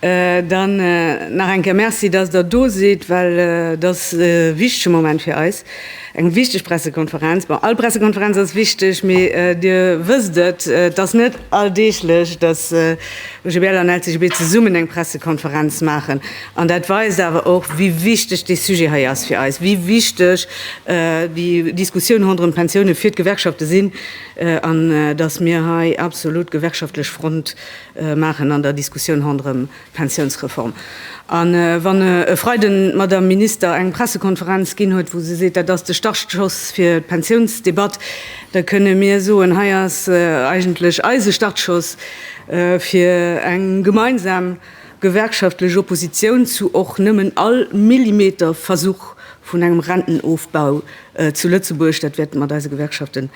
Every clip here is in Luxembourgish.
Dann nach eng Kéier Merci, dass Der do sidd, well et ass e wichtege Moment fir eis, eng wichteg Pressekonferenz. Bon, all Pressekonferenz ass wichteg, mee Dir wësst et, et ass net alldeeglech, dass OGBL an LCGB zesummen eng Pressekonferenz maachen. An dat weist awer och, wéi wichteg dee Sujet hei ass fir eis, wéi wichteg déi Diskussioun ronderëm d'Pensioune fir d'Gewerkschafte sinn an dass mir hei absolut gewerkschaftlech Front maachen an der Diskussioun ronderëm d'Pensiounsreform. A wann e Freiden d'Madame Minister eng Pressekonferenz ginn huet, wou se seet, dat ass de Startschoss fir d'Pensiounsdebatt, da kënne mir soen, hei ass eigentlech eise Startschoss fir eng gemeinsam, gewerkschaftlech Oppositioun zu och nëmmen all Millimeter Versuch vun engem Rentenofbau zu Lëtzebuerg. Dat wäert mat eise Gewerkschaften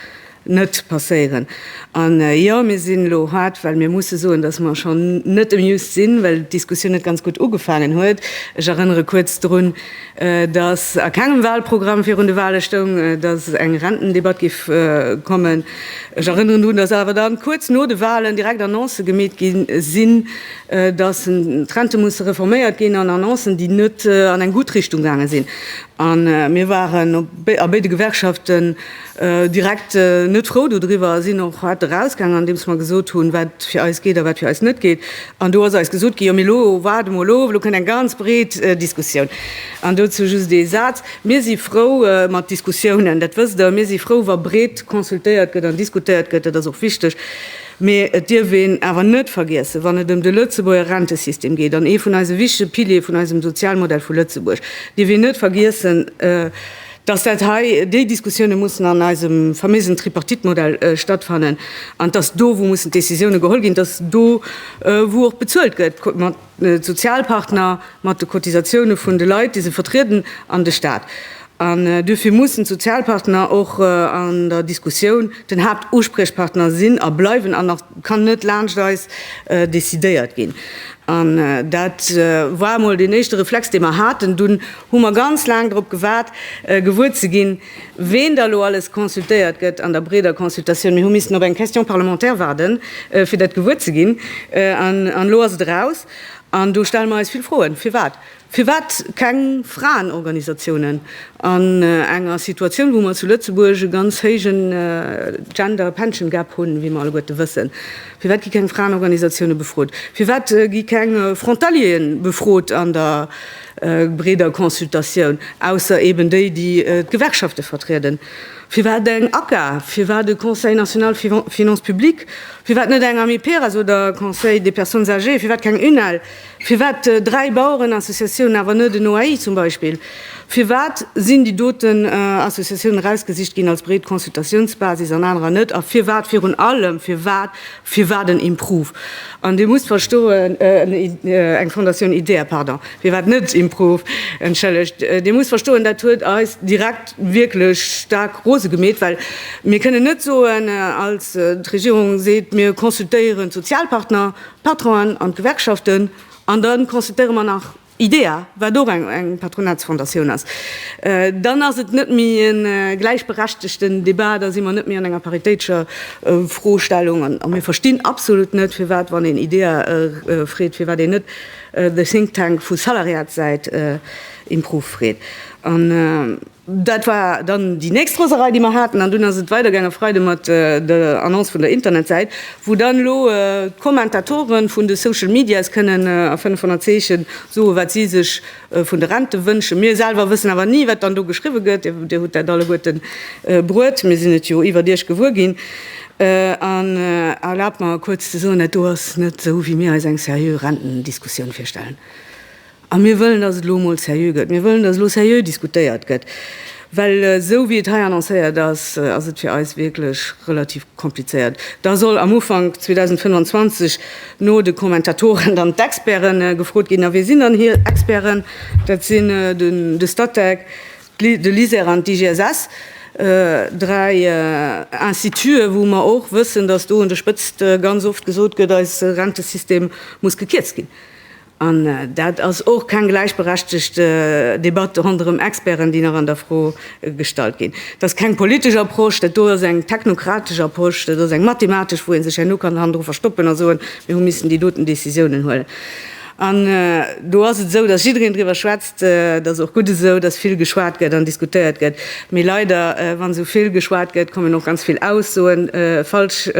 net passéieren. An jo, mir sinn elo haart, well mir musse soen, datt mer schonn net amused sinn, well d'Diskussioun net ganz gutt ugefaangen huet. Ech erënnere kuerz drun, datt a kengem Wahlprogramm virun de Wahle stoung, datt eng Rentendebatt géif kommen. Ech erënneren drun, datt awer dann kuerz no de Wahlen direkt Annoncë gemeet gi sinn, dass d'Rente musse reforméiert ginn an Annoncen, déi net an eng gutt Richtung gaange sinn. A mir waren a béide Gewerkschaften direkt net frou dodriwwer a sinn och hart erausgaangen, andeems mer gesot hunn, wat fir eis geet a wat fir eis net geet. An do ass eis gesot ginn, Jo, mee elo waarde mol of, elo kënnt eng ganz breet Diskussioun. An dozou just ee Saz, Mir si frou mat Diskussiounen, dat wësst Der. Mir si frou, wa breet consultéiert gëtt an diskutéiert gëtt, dat ass och wichteg. Mee et dierf een awer net vergiessen, wann et ëm de Lëtzebuerger Rentesystem geet, an ee vun eise wichtege Piliere vun eisem Sozialmodell vu Lëtzebuerg, dierf een net vergiessen, dass dat hei, déi Diskussioune mussen an eisem famösen Tripartite-Modell stattfannen, an dass do wou mussen d'Décisioune geholl ginn, dass do wou och bezuelt gëtt. D'Sozialpartner mat de Cotisatioune vun de Leit, déi se vertrieden, an de Staat. An duerfir mussen d'Sozialpartner och an der Diskussioun den Haaptuspriechpartner sinn a bleiwen. An nach kann net laanscht eis decidéiert ginn. An dat war emol deen éischte Reflex, dee mer haten. Dunn hu mer ganz laang drop gewaart, gewuer ze ginn, Ween da elo alles consultéiert gëtt an der breeder Consultatioun, mir hu missen op eng Question parlementaire waarden, fir dat gewuer ze ginn, an elo ass et eraus. An do stelle mer eis vill Froen, Firwat? Firwat keng Fraenorganisatiounen an enger Situatioun, wou mer zu Lëtzebuerg e ganz héije Gender Pension Gap hunn, wéi mer alleguerte wëssen? Firwat gi keng Fraenorganisatiounen befrot? Firwat gi keng Frontalieren befrot an der breeder Consultatioun, ausser eben déi, déi d'Gewerkschafte vertrieden. Firwat eng ACA? Firwat e Conseil national Finances publiques? Firwat net eng Amiperas oder Conseil des personnes âgées? Firwat keng UNEL? Firwat dräi Bauerenassociatiounen, awer net en OAI zum Beispill? Firwat sinn déi doten Associatiounen erausgesicht ginn als breet Consultatiounsbasis an anerer net? A firwat virun allem, firwat Firwat en Improve? An Dir musst verstoen, eng Fondatioun Idea, pardon, firwat net Improve, entschëllegt, Dir musst verstoen, dat huet eis direkt wierklech staark rose gemeet, well mir kënnen net soen, als d'Regierung seet, mir consultéieren d'Sozialpartner, d'Patronen an d'Gewerkschaften, an da consultéiere mer nach Idea, wat och eng Patronatsfondatioun ass, dann ass et net méi e gläichberechtegten Debat, da si mer net méi an enger paritéitescher Froestellung. A mir verstinn absolut net, firwat, wann een Idea freet, firwat een net de Think Tank vu Salariatssäit Improve freet. Dat war dann déi nächst Roserei, déi mer haten. An dunn ass et weidergaange Freide mat der Annonce vun der Internetsäit, wou dann elo d'Kommentatoren vun de Social Medias kënnen a 500 Zeechen soen, wat si sech vun de Rente wënschen. Mir selwer wëssen awer ni, wat dann do geschriwwe gëtt. Dir hutt dat alleguerten bruet, mir sinn et jo iwwert Iech gewuer ginn. An erlaabt mer kuerz ze soen, dat do ass net esou, wéi mir eis eng seriö Rentendiskussioun virstellen. A mir wëllen, dass et elo emol seriö gëtt. Mir wëllen, dass elo seriö diskutéiert gëtt, well esou wéi et hei annoncéiert ass, ass et fir eis wierklech relativ komplizéiert. Da soll am Ufank 2025 no de Kommentatoren dann d'Experte gefrot ginn. A wie sinn dann hir Experten? Dat sinn de Statec, de LISER an d'IGSS, dräi Institute, wou mer och wëssen, dass do un der Spëtzt ganz oft gesot gëtt, eise Rentesystem muss gekierzt ginn. An dat ass och keng gläichberechtigt Debatt ronderëm Experten, déi nach an der Fro gestallt ginn. Dat ass keng politesch Approche, dat do ass eng technokratesch Approche, dat ass eng mathematesch, wou ee sech herno kann hannendru verstoppen a soen, mir hu missen déi doten Décisiounen huelen. An do ass et esou, datt jiddereen driwwer schwätzt, dat ass och gutt esou, datt vill geschwat gëtt an diskutéiert gëtt. Mee leider, wa sou vill geschwat gëtt, kommen och ganz vill Aussoen falsch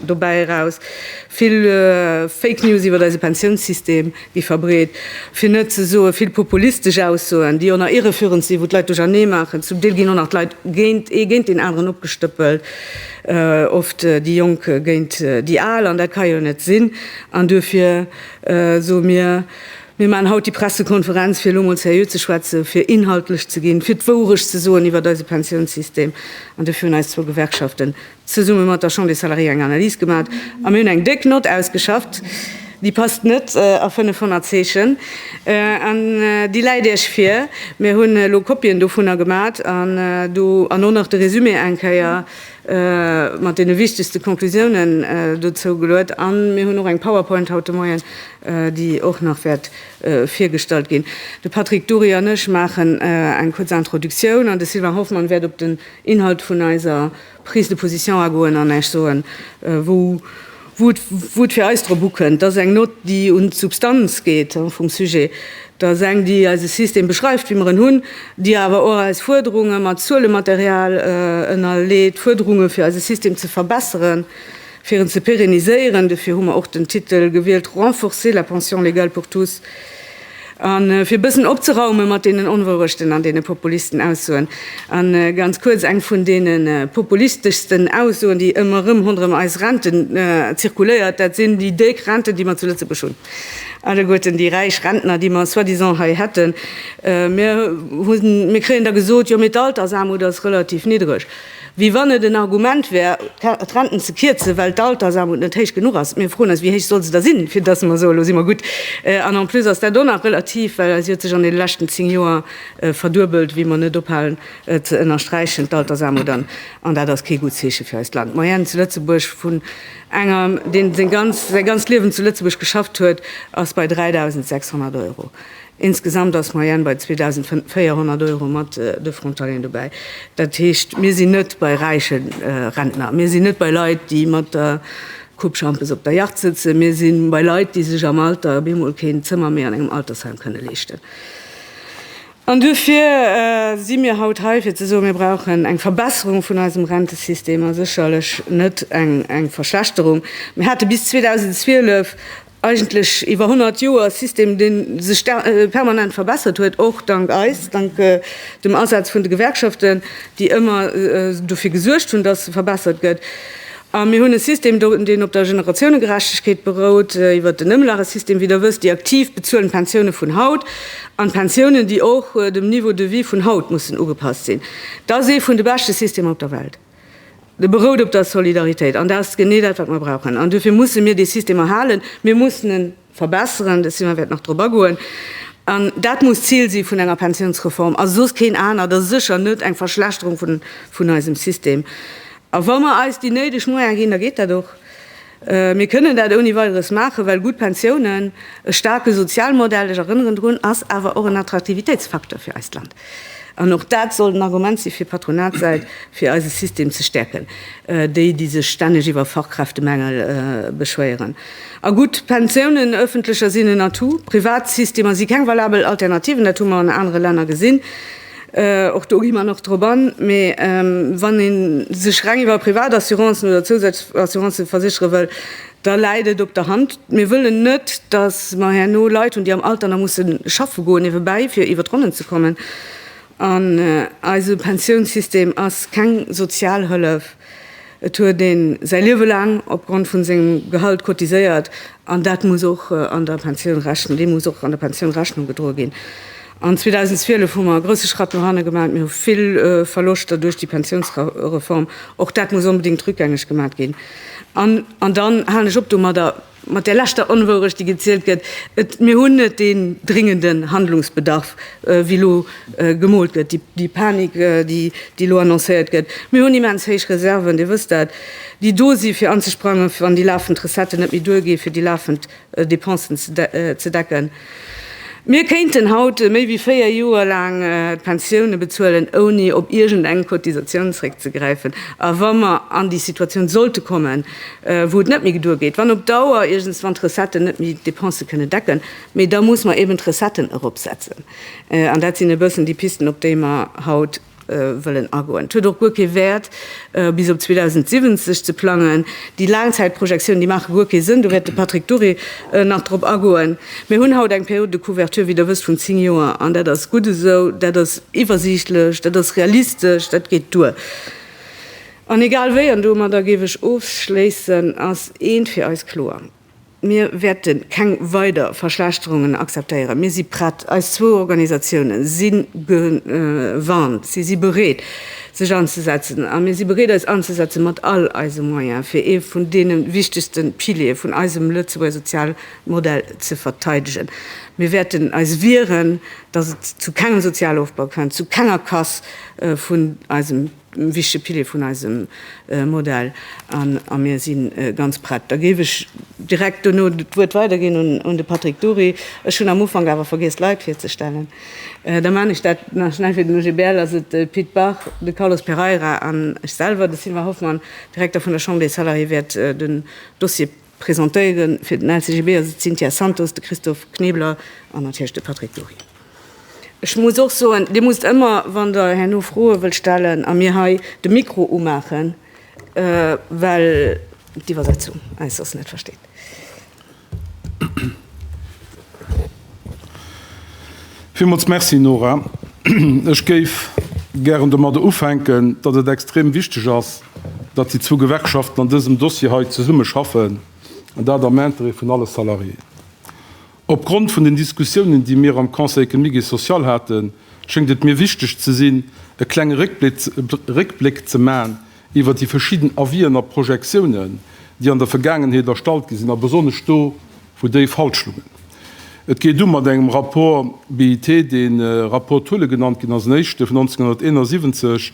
dobäi eraus. Vill Fake News iwwer eise Pensiounssystem gi verbreet, fir net ze soe vill populistesch Aussoen, déi och nach irreführend sinn, wou d'Leit duerchernee maachen. Zum Deel ginn och nach d'Leit géint, ee géint deen aneren opgestëppelt, oft déi Jonk géint déi Al, an dat ka jo net sinn. An duerfir soe mir, Mir maachen haut déi Pressekonferenz, fir elo mol seriö ze schwätzen, fir inhaltlech ze ginn, fir d'Wourecht ze soen iwwer eise Pensiounssystem. An duerfir hunn eis zwou Gewerkschaften zesumme mat der Chambre des Salariés eng Analys gemaat a mir hunn eng déck Nott ausgeschafft, déi passt net a 500 Zeechen an déi läit Iech vir. Mir hunn elo Kopien dovunner gemaat an do an och nach de Résumé eng Kéier mat deene wichtegste Conclusiounen dozou geluet an mir hunn och eng Powerpoint haut de Moien, déi och nach wäert virgestallt ginn. De Patrick Dury an ech maachen eng kuerz Introductioun an de Sylvain Hoffmann wäert op den Inhalt vun eiser Prise de position agoen an Esch soen, wou et fir eis drop ukënnt. Dat ass eng Nott, déi un d'Substanz geet vum Sujet. Dat ass eng, déi eise System beschreift, wéi mer en hunn, déi awer och eis Fuerderunge mat Zuelematerial ënnerleet, Fuerderunge fir eise System ze verbesseren, fir en ze pérenniséieren. Dofir hu mer och den Titel gewielt, Renforcer la pension légale pour tous. A fir e bëssen opzeraume mat deenen Onwourechten an deene Populisten-Aussoen, a ganz kuerz eng vun deene populisteschsten Aussoen, déi ëmmer erëm ronderëm eis Renten zirkuléiert, dat sinn déi déck Renten, déi mer zu Lëtzebuerg hunn, alleguerten déi räich Rentner, déi mer soi-disant hei hätten. Mir kréien da gesot, jo mee d'Altersaarmut ass relativ niddreg. Wéi wann et en Argument wär, d'Renten ze kierzen, well d'Altersarmut net héich genuch ass. Mir froen eis, Wéi héich soll se da sinn, fir datt mer soen, Elo si mer gutt? An en plus ass dat och nach relativ, well si huet sech an deene leschten zéng Joer verduebelt, wéi mer net ophalen ze ënnersträichen, d'Altersarmut. An dat ass kee gutt Zeeche fir eist Land. D'Moyenne zu Lëtzebuerg vun engem, deen säi ganzt Liewen zu Lëtzebuerg geschafft huet, ass bei 3.600 Euro. Insgesamt ass d'Moyenne bei 2.400 Euro mat de Frontalieren dobäi. Dat heescht, mir sinn net bei räiche Rentner, mir sinn net bei Leit, déi mat der Coupe Schampes op der Yacht sëtzen, mir si bei Leit, déi sech am Alter bemol keen Zëmmer méi an engem Altersheim kënne leeschten. An duerfir si mir haut hei, fir ze soen, mir brauchen eng Verbesserung vun eisem Rentesystem a sécherlech net eng Verschlechterung. Mir hate bis 2012 eigentlech iwwer 100 Joer System, dee sech permanent verbessert huet, och dank eis, dank dem Asaz vun de Gewerkschaften, déi ëmmer dofir gesuergt hunn, dass e verbessert gëtt. A mir hunn e System, deen op der Generatiounegerechtegkeet berout, iwwer den Ëmlagesystem, wéi Der wësst. Déi Aktiv bezuelen d'Pensioune vun haut an d'Pensiounen, déi och dem Niveau de vie vun haut mussen ugepasst sinn. Dat ass ee vun de beschte Systemer op der Welt. De berout op der Solidaritéit, an dat ass genee dat, wat mer brauchen. An duerfir musse mir dee System erhalen, mir mussen e verbessern, de Simon wäert nach drop agoen. An dat muss d'Zil si vun enger Pensiounsreform a soss keen anert a sécher net eng Verschlechterung vun eisem System. A wa mer eis déi néideg Moyene ginn, da geet dat och. Mir kënnen dat ouni Weideres maachen, well gutt Pensiounen, e staarke Sozialmodell, ech erënneren drun, ass awer och en Attraktivitéitsfacteur fir eist Land. An och dat sollt en Argument si fir d'Patronatssäit, fir eise System ze stäerken, déi, déi sech stänneg iwwer Fachkräftemängel beschwéieren. A gutt Pensiounen, ëffentlecher, sinn en Atout. Privatsystemer si keng valabel Alternativen, dat hu mer an anere Länner gesinn. Och do gi mer nach drop an. Mee wann ee sech reng iwwer Privatassuranzen oder zousätzlech Assurancen verséchere wëll, da läit et op der Hand. Mir wëllen net, datt mer herno Leit hunn, déi am Alter nach musse schaffe goen niewebäi, fir iwwer d'Ronnen ze kommen. An eise Pensiounssystem ass keng Sozialhëllef. Et huet ee säi Liewe laang opgrond vu sengem Gehalt cotiséiert, an dat muss och an der Pensioun Rechnung, deem muss och an der Pensioun Rechnung gedroe ginn. An 2012 hu mer e grousse Schratt no hanne gemat. Mir hu vill Verloschter duerch déi Pensiounsreform. Och dat muss onbedéngt rückgängeg gemat ginn. An, an dann halen ech op domadder, mat där leschter Onwourecht, déi gezielt gëtt, et, mir hunn net deen dringenden Handlungsbedarf, wéi elo gemoolt gëtt, déi, déi Panik, déi, déi elo annoncéiert gëtt. Mir hunn immens héich Reserven, Dir wësst dat, déi do si fir anzesprangen, wann déi lafend Recetten net méi duergi fir déi lafend Depensen ze decken. Mir kéinten haut méi wéi 4 Joer laang d'Pensioune bezuelen, ouni op iergend eng Cotisatioun zréckzegräifen. A wa mer an déi Situatioun sollte kommen, wou et net méi geduer geet, wann op Dauer iergendswann d'Recetten net méi d'Depense kënnen decken, mee da muss mer eben d'Recetten eropsetzen. An dat sinn e bëssen déi Pisten, op déi mer haut. wëllen agoen. Et huet och guer kee Wäert, bis op 2070 ze plangen. Déi Laangzäitprojektiounen, déi maache guer kee Sënn, do wäert de Patrick Dury nach drop agoen. Mir hunn haut eng Période de couverture, wéi Der wësst, vun zéng Joer, an dat ass gutt esou. Dat ass iwwersiichtlech, dat ass realistesch, dat geet duer. An egal wéi, an domadder géif ech ofschléissen, ass eent fir eis kloer, Mir wäerte keng weider Verschlechterungen akzeptéieren. Mir si prett. Eis zwou Organisatiounen si gewarnt. Si si bereet, sech anzesetzen. A mir si bereet, eis anzesetzen, mat all eise Moyen, fir ee vun deene wichtegste Piliere vun eisem Lëtzebuerger Sozialmodell ze verteidegen. Mir wäerten eis wieren, dass et zu kengem Sozialofbau kënnt, zu kenger Casse vun eisem wichtege Pilier vun eisem Modell a mir si ganz prett. Da géif ech direkt dono d'Wuert weiderginn un de Patrick Dury. Ech hunn am Ufank awer vergiess, d'Leit virzestellen. Da man ech dat nach schnell. Fir den OGBL ass et de Pit Bach, de Carlos Pereira an ech selwer, de Sylvain Hoffmann, Direkter vun der Chambre des Salariés, wäert den Dossier Presentéiere fir den LCGB ass et d'Cynthia Santos, de Christophe Knebler an natierlech de Patrick Dury. Ech muss och soen, Dir musst ëmmer, wann Der herno Froe wëllt stellen a mir hei de Mikro umaachen, well d'Iwwersetzung eis soss net versteet. Villmools Merci, Nora. Ech géif gären domadder ufänken, datt et extrem wichteg ass, datt déi zwou Gewerkschaften an dësem Dossier hei zesumme schaffen, an dat am Intérêt vun alle Salariéen. Opgrond vun den Diskussiounen, déi mir am Conseil économique et social haten, schéngt et mir wichteg ze sinn, e klenge Réckbléck ze maachen iwwert déi verschidden Avis'en a Projektiounen, déi an der Vergaangenheet erstallt gi sinn a besonnesch do, Vu déi falsch Lungen. Et geet u mat engem Rapport BIT, dee Rapport Thulle genannt ginn ass, en éischte vun 1971,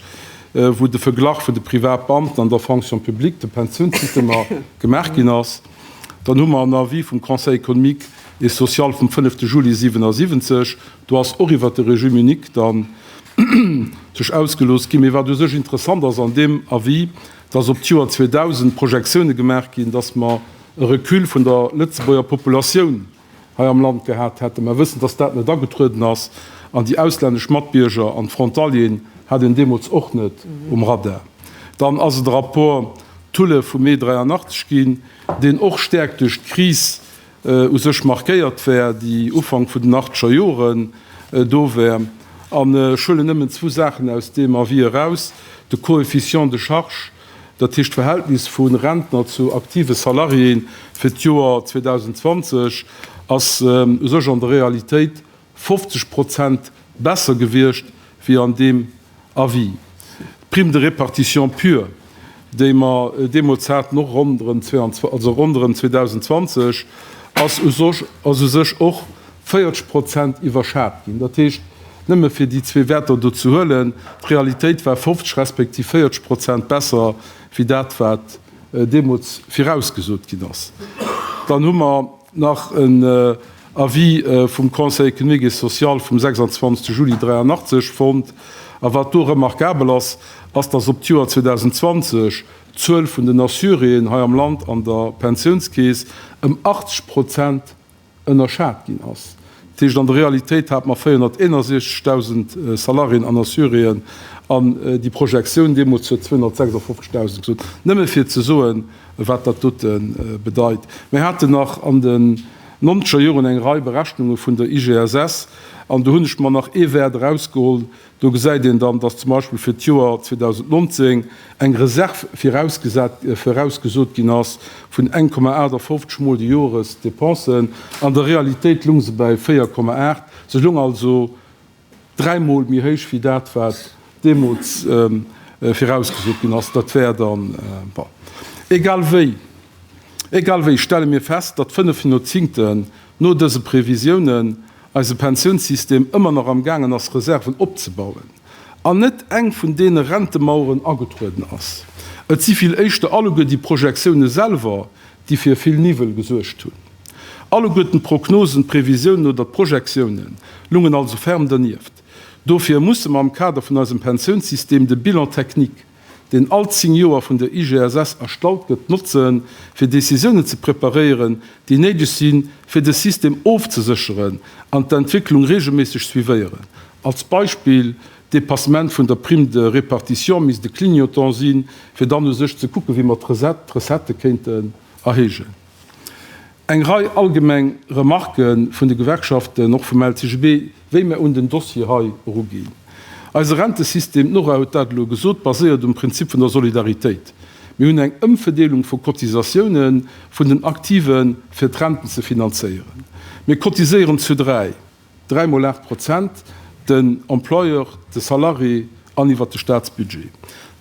wou de Verglach vun de Privatbeamten an der Fonction publique, de Pensiounssystemer gemaach ginn ass. Dann hu mer en Avis vum Conseil économique et social vum fënnefte Juli 1977. Do ass och iwwert de Régime unique dann sech ausgelooss ginn. Mee wat u sech interessant ass an deem Avis, dass op d'Joer 2000 Projektione gemaach ginn, dass mer e Recul vun der Lëtzebuerger Populatioun hei am Land gehat hätten. Mer wëssen, dass dat net agetrueden ass, an déi auslännesch Matbierger an d'Frontalieren hat een deemools och net um Radar. Dann ass et e Rapport Thulle vum Mee 83 ginn, deen och stäerk duerch d'Kris u sech markéiert war, déi Ufank vun den achteger Joren do war. An ech huelen nëmmen zwou Saachen aus deem Avis eraus, de Coefficient de charge, Dat heescht d'Verhältnis vu Rentner zu aktive Salariéen fir d'Joer 2020 ass u sech an der Realitéit 50 Prozent besser gewiescht wéi an deem Avis. D'Prime de répartition pure, déi mer deemools haten, och ronderëm 2020, ass u sech och 40 Prozent iwwerschat ginn. Dat heescht, nëmme fir déi zwee Wäerter do ze huelen, d'Realitéit war 50 respektiv 40 Prozent besser wéi dat, wat deemools virausgesot ginn ass. Dann hu mer nach en Avis vum Conseil économique et social vum 26 Juli 1983 fonnt. A wat do remarkabel ass, ass, dass op d'Joer 2020 d'Zuel vun den Assuréen hei am Land an der Pensiounskeess ëm 80 Prozent ënnerschat ginn ass. Dat heescht an der Realitéit hate mer 461.000 Salariéen an Assuréen an déi Projektioun deemools huet 256.000 gesot, nëmme fir ze soen, wat dat dote bedeit. Mir haten nach an den nonzeger Joren eng Rei Berechnunge vun der IGSS an do hunn ech mer nach ee Wäert erausgeholl, Do gesäit een dann, dass zum Beispill fir d'Joer 2019 eng Reserv virausgesot ginn ass vun 1,58 Mol de Joresdepensen. An der Realitéit lung se bäi 4,8. Se lung also dräi Mol méi héich wéi dat, wat deemools virausgesot ginn ass. Dat wär dann, bon, egal wéi. Egal wéi stelle mir fest, datt fënnef Hyazinthen no dëse Previsiounen, eise Pensiounssystem ëmmer nach am gaangen ass Reserven opzebauen an net eng vun deene Rentemaueren agetrueden ass. Et si vill éischter alleguer déi Projektioune selwer, déi fir vill Niwwel gesuergt hunn. Alleguerten d'Prognosen, d'Previsiounen oder d'Projektiounen lungen also ferm dernieft. Dofir musse mer am Kader vun eisem Pensiounssystem de Bilan technique, deen all zéng Joer vun der IGSS erstallt gëtt, notzen, fir Decisiounen ze preparéieren, déi néideg sinn, fir de System ofzesécheren, an d'Entwécklung reegelméisseg suivéieren. Als Beispill, D'Depassement vun der Prime de répartition misst e Clignotant sinn, fir dann u sech ze kucken, wéi mer d'Recettë kéinten erhéijen. Eng Rei allgemeng Remarke vun de Gewerkschaften, och vum LCGB, wéi mir un den Dossier hei eruginn. Eise Rentesystem, d'Nora huet dat elo gesot, baséiert um Prinzip vun der Solidaritéit. Mir hunn eng Ëmverdeelung vu Cotisatiounen vun den Aktiven, fir d'Renten ze finanzéieren. Mir cotiséieren zu dräi. Dräi mol aacht Prozent, den Employeur, de Salarié an iwwer de Staatsbudget.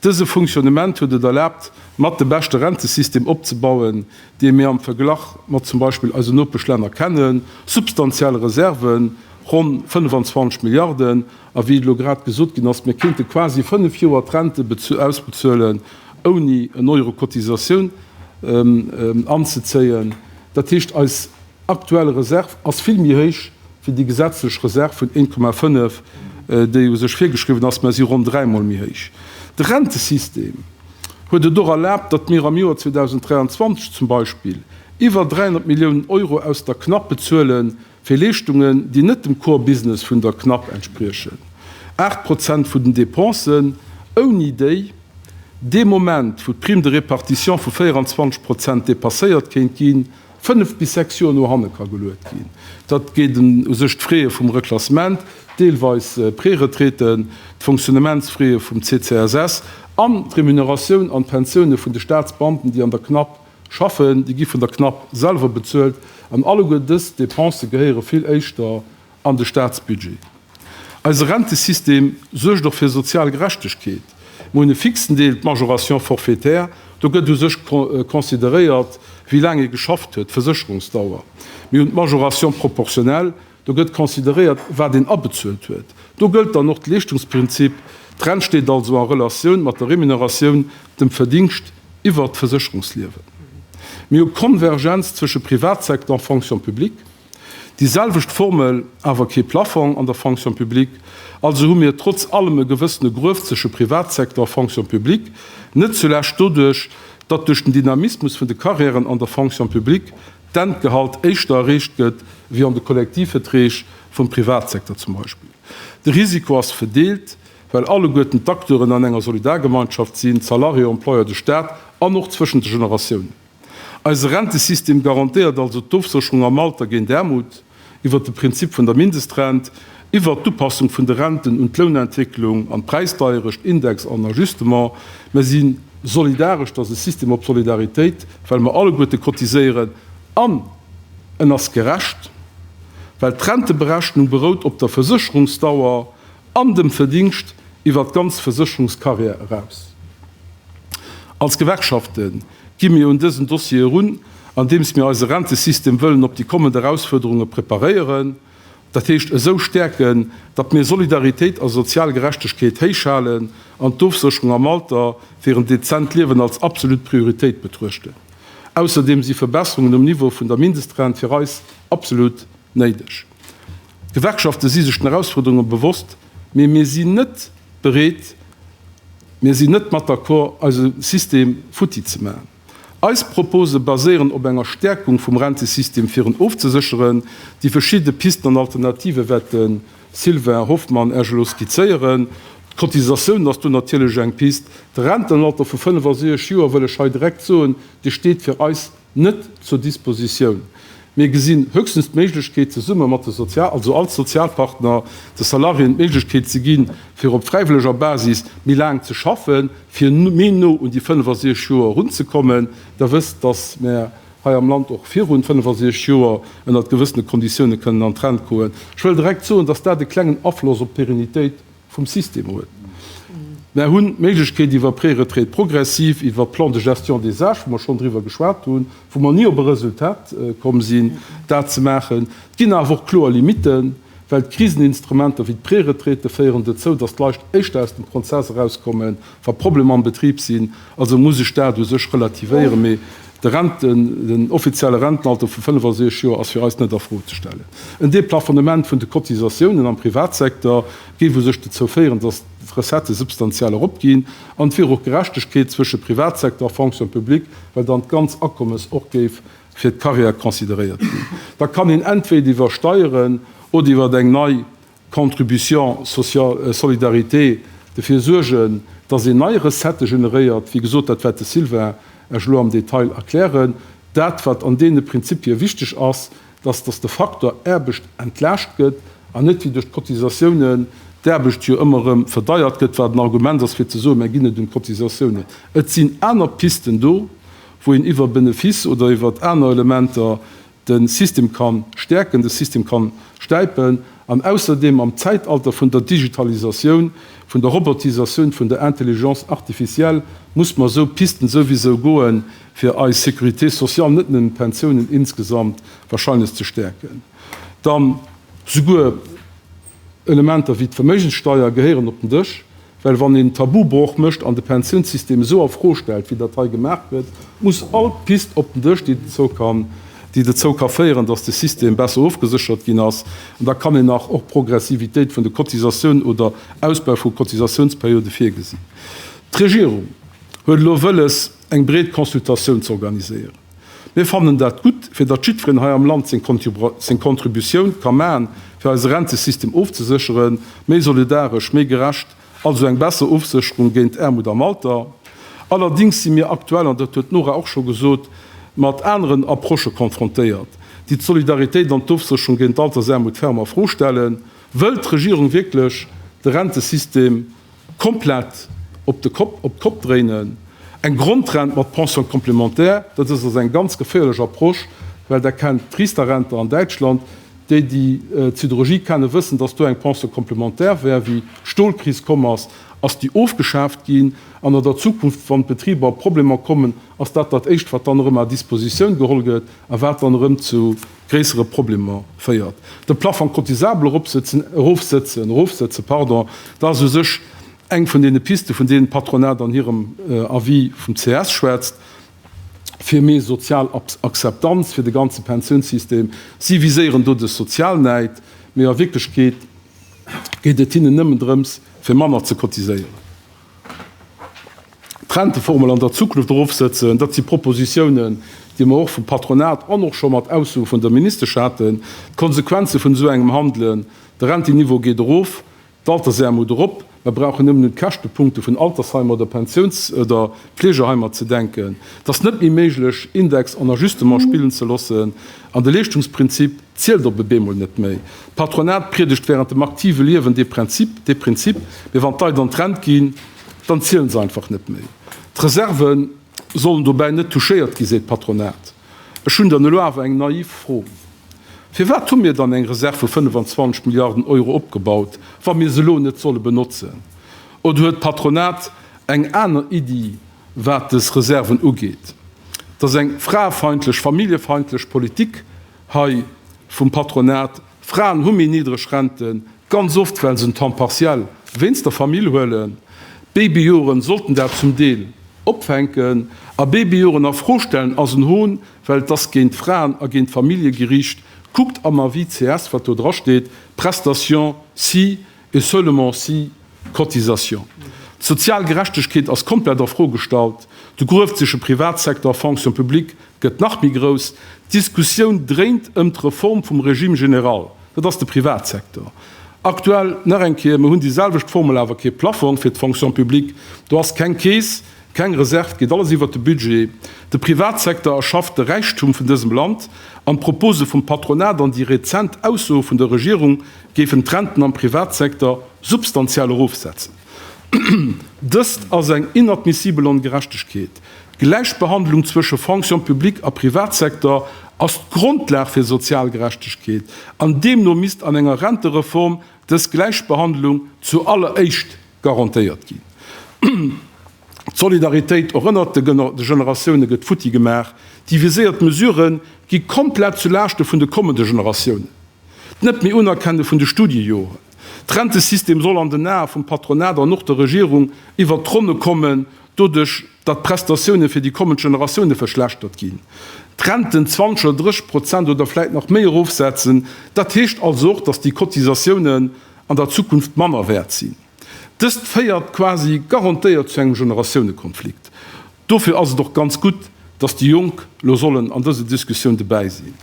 Dëse Funktionnement huet et erlaabt, mat de beschte Rentesystem opzebauen, dee mir am Verglach mat zum Beispill eisen Nopeschlänner kennen, substantiell Reserven, ronn 25 Milliarden. A wéi et elo grad gesot ginn ass, mir kéinte quasi fënnf Joer d'Rente ausbezuelen, ouni en Euro Cotisatioun anzezéien. Dat heescht, eis aktuell Reserv ass vill méi héich wéi déi gesetzlech Reserv vun 1,5, déi u sech virgeschriwwen ass, mä si ronn dräi Mol méi héich. De Rentesystem huet et och erlaabt, datt mir am Joer 2023 zum Beispill iwwer 300 Milliounen Euro aus der CNAP bezuele fir Leeschtungen, déi net dem Core Business vun der CNAP entspriechen, aacht Prozent vun den Dépensen, ouni déi dee Moment, wou d'Prime de répartition vu 24 Prozent dépasséiert kéint ginn, fënnef bis sechs Joer no hanne ka geluet ginn. Dat geet u sech d'Fraie vum Reklassement, deelweis Préretraiten, d'Fonctionnementsfraie vum CCSS an d'Remuneratioun an d'Pensioune vun de Staatsbeamten, déi an der CNAP schaffen. Déi gi vun der CNAP selwer bezuelt an alleguer dës Depensë gehéiere vill éischter an de Staatsbudget. Eise Rentesystem suergt och fir sozial Gerechtegkeet. Mir hunn e fixen Deel, d'Majoration forfaitaire, do gëtt u sech consideréiert, wéi laang ee geschafft huet, d'Versécherungsdauer. Mir hunn d'Majoration proportionnelle, do gëtt consideréiert, wat een abezuelt huet. Do gëllt dann och de Leeschtungsprinzip, d'Rent steet also a Relatioun mat der Remuneratioun, dem Verdingscht iwwert d'Versécherungsliewen. Mir hu Konvergenz zwësche Privatsecteur a Fonction publique. Déi selwecht Formel, awer kee Plaffong an der Fonction publique. Also hu mir trotz allem e gewëssene Gruef zwësche Privatsektor a Fonction publique, net zulescht doduerch, datt duerch den Dynamismus vun de Carrièren an der Fonction publique d'Endgehalt éischter erreecht gëtt wéi an de Kollektivveträg vum Privatsektor zum Beispill. De Risiko ass vedeelt, well alleguerten d'Acteuren an enger Solidargemeinschaft sinn, d'Salarié-Employeur, de Staat, an och zwëschen de Generatiounen. Eise Rentesystem garantéiert also d'Ofsécherung am Alter géint Aarmut iwwert de Prinzip vun der Mindestrent, iwwert d'Upassung vun de Renten un d'Lounentwécklung an d'Präisdeierecht, Index an Ajustement. Mer si solidaresch, dass e System op Solidaritéit, well mer alleguerte cotiséieren, an en ass gerecht, well d'Renteberechnung berout op der Versécherungsdauer an dem Verdingscht iwwert d'ganz Versécherungscarrière eraus. Als Gewerkschaften, Gi mir un dësen Dossier erun, andeems mir eise Rentesystem wëllen op déi kommend Erausfuerderunge preparéieren, dat heescht esou stäerken, datt mir Solidaritéit a sozial Gerechtegkeet héichhalen an d'Ofsécherung am Alter fir en dezent Liewen als absolut Prioritéit betruechten. Ausserdeem si Verbesserungen um Niveau vun der Mindestrent fir eis absolut néideg. D'Gewerkschafte si sech den Erausfuerderunge bewosst, mee mir sinn net bereet, mir sinn net mat d'accord, eise System futti ze maachen. Eis Propose baséieren op enger Stäerkung vum Rentesystem, fir en ofzesécheren. Déi verschidde Pisten an Alternative wat de Sylvain Hoffmann Iech elo skizzéieren, d'Cotisatioun ass do natierlech eng Pist. De Rentenalter vu 65 Joer, wëll ech hei direkt soen, dee steet fir eis net zur Dispositioun. Mir gesinn höchstens d'Méiglechkeet, zesumme mat de Sozial-, also als Sozialpartner, de Salariéen d'Méiglechkeet ze ginn, fir op fräiwëlleger Basis méi laang ze schaffen, fir méi no un déi 65 Joer erunzekommen. Der wësst, dass mer hei am Land och virun 65 Joer ënnert gewëssene Konditiounen kënnen an d'Rent goen. Ech wëll direkt soen, dass dat e klengen Afloss op d'Pérennitéit vum System huet. Mer hunn d'Méiglechkeet iwwer Préretraite progressive, iwwer Plan de gestion des âges, wou mer schonn driwwer geschwat hunn, wou mer ni op e Resultat komm sinn, dat ze maachen. Et ginn awer och kloer Limitten, well d'Kriseninstrumenter wéi d'Préretraite féieren dozou, datt d'Leit éischter aus dem Prozess erauskommen, Wa Problemer am Betrib sinn, also muss ech dat u sech relativéieren, mee de Rente, den offizielle Rentenalter vu 65 Joer ass fir eis net a Fro ze stellen. En Deplafonnement vun de Cotisatiounen am Privatsecteur géif u sech dozou féieren, datt d'Recettë substantiell eropginn an et wier och Gerechtegkeet zwësche Privatsecteur a Fonction publique, well dann d'ganz Akommes och géif fir d'Carrière consideréiert ginn. Da kann een entweder iwwer Steieren oder iwwer eng nei Contribution sociale solidarité, dofir suergen, dass een nei Recettë generéiert, wéi gesot, dat wäert de Sylvain Esch elo am Detail erklären. Dat, wat an deene Prinzipie wichteg ass, dass, dass de Faktor Aarbecht entlaascht gëtt an net wéi duerch d'Cotisatiounen d'Aarbecht jo ëmmer erëm verdeiert gëtt, wat en Argument ass fir ze soen, mä ginn et un d'Cotisatiounen. Et sinn aner Pisten do, wou een iwwer Benefice oder iwwert aner Elementer de System ka stäerken, de System ka stäipen an ausserdeem am Zäitalter vun der Digitalisatioun, vun der Robotisatioun, vun der Intelligence artificielle muss mer esou Pisten souwisou goen, fir eis Sécurité sociale, net nëmmen d'Pensiounen, insgesamt wahrscheinlech ze stäerken. Dann souguer Elementer wéi d'Verméigenssteuer gehéieren op den Dësch, Well wann een Tabubroch mécht an de Pensiounssystem esou a Fro stellt, wéi dat hei gemaach gëtt, muss all Pist op den Dësch, déi dozou kann, déi dozou ka féieren, datt de System besser ofgeséchert ginn ass. An da kann een nach och Progressivitéit vun de Cotisatiounen oder Ausbau vu Cotisatiounsperiode virgesinn. D'Regierung huet elo wëlles, eng breet Consultatioun z'organiséieren. Mir fannen dat gutt, fir datt jiddferen hei am Land seng Contributioun ka maachen, fir eise Rentesystem ofzesécheren, méi solidaresch, méi gerecht, also eng besser Ofsécherung géint Aarmut am Alter. Allerdings si mir aktuell, an dat huet d'Nora och scho gesot, mat aneren Approchë konfrontéiert, déi d'Solidaritéit an d'Ofsécherung géint d'Altersaarmut ferm a Fro stellen. Wëllt d'Regierung wierklech de Rentesystem Komplett op de Kopp, op d'Kopp dréinen. Eng Grondrent mat Pension complémentaire, dat ass also eng ganz geféierlech Approche, well Der kennt d'Riester-Rente an Däitschland. Déi, déi d'Siderurgie kennen, wëssen, dass do eng Pension complémentaire war, wéi d'Stolkris komm ass, ass déi ofgeschaaft ginn. An an der Zukunft, wann d'Betriber a Problemer kommen, ass dat dat Éischt, wat dann erëm à disposition geholl gëtt a wat dann erëm zu, gréissere Problemer féiert. De Plafond cotisable erofsetze, dat ass u sech eng vun deene Pisten, vun deenen d'Patronat an hirem Avis vum ces schwätzt, fir méi sozial Akzeptanz fir de ganze Pensiounssystem. Si viséieren do de Sozialneid, mee a Wierklechkeet geet et hinnen nëmmen drëms, fir manner ze cotiséieren. D'Renteformel an der Zukunft erofsetzen, dat si Propositiounen, déi mer och vum Patronat an och scho mat Aussoe vun der Ministesch haten. D'Konsequenze vun esou engem Handelen, de Renteniveau geet erof, d'Altersaarmut erop. Mer brauchen nëmmen un d'Käschtepunkte vun Altersheimer oder Pensiouns oder Fleegeheimer ze denken. Et ass net méi méiglech, Index an Ajustement spillen ze loossen an de Leeschtungsprinzip, zielt op e bemol net méi. D'Patronat priedegt während dem aktive Liewen dee Prinzip, dee Prinzip, mee wann d'Leit an d'Rent ginn, dann zielen se einfach net méi. D'Reserve sollen dobäi net touchéiert ginn, seet d'Patronat. Ech hunn dann elo awer eng naiv Fro, Firwat hu mir dann eng Reserve vu 25 Milliarden Euro opgebaut, wa mir se elo net solle benotzen? Oder huet d'Patronat eng aner Iddi, wat des Reserven ugeet? Dass eng fraefeindlech, familljefeindlech Politik hei vum Patronat, Fraen hu méi niddreg Renten, ganz oft well se en Temps partiel wéinst der Famill huelen, Babyjoren sollten dat zum Deel opfänken a Babyjoren a Fro stellen ass en Hohn, well et ass géint d'Fraen a géint d'Famillje gericht. Kuckt am Avis CS, wat do drasteet, Prestation si et seulement si cotisation. D'sozial Gerechtegkeet ass komplett a Fro gestallt. De grueft sech e Privatsecteur, Fonction publique, gëtt nach méi grouss. D'Diskussioun dréint ëm d'Reform vum Régime général, dat ass de Privatsektor. Aktuell, nach eng Kéier, mir hunn déi selwecht Formel, awer kee Plaffong fir d'Fonction publique. Do ass keng Keess, keng Reserv, geet alles iwwert de Budget. De Privatsektor erschafft de Räichtum vun dësem Land an d'Propose vum Patronat an déi rezent Aussoe vun der Regierung géifen d'Renten am Privatsektor substantiell erofsetzen. Dëst ass eng inadmissibel Ongerechtegkeet. D'Gläichbehandlung zwësche Fonction publique a Privatsektor ass d'Grondlag fir sozial Gerechtegkeet an deemno misst an enger Rentereform dës Gläichbehandlung zu alleréischt garantéiert ginn. D'Solidaritéit och ënnert de Generatioune gëtt futti gemaach. Déi viséiert Mesurë gi komplett zu Laaschte vun de kommende Generatiounen. D'Net méi Unerkenne vun de Studiejoren. D'Rentesystem soll an den Ae vum Patronat an och der Regierung iwwert d'Ronne kommen, Doduerch, datt d'Prestatioune fir déi kommend Generatioune verschlechtert ginn, d'Renten 20 oder 30 Prozent oder vläit nach méi erofsetzen. Dat heescht also och, datt déi Cotisatiounen an der Zukunft manner wäert sinn. Dëst féiert quasi garantéiert zu engem Generatiounekonflikt. Dofir ass et och ganz gutt, datt déi Jonk elo sollen an dëse Diskussioun dobäi sinn.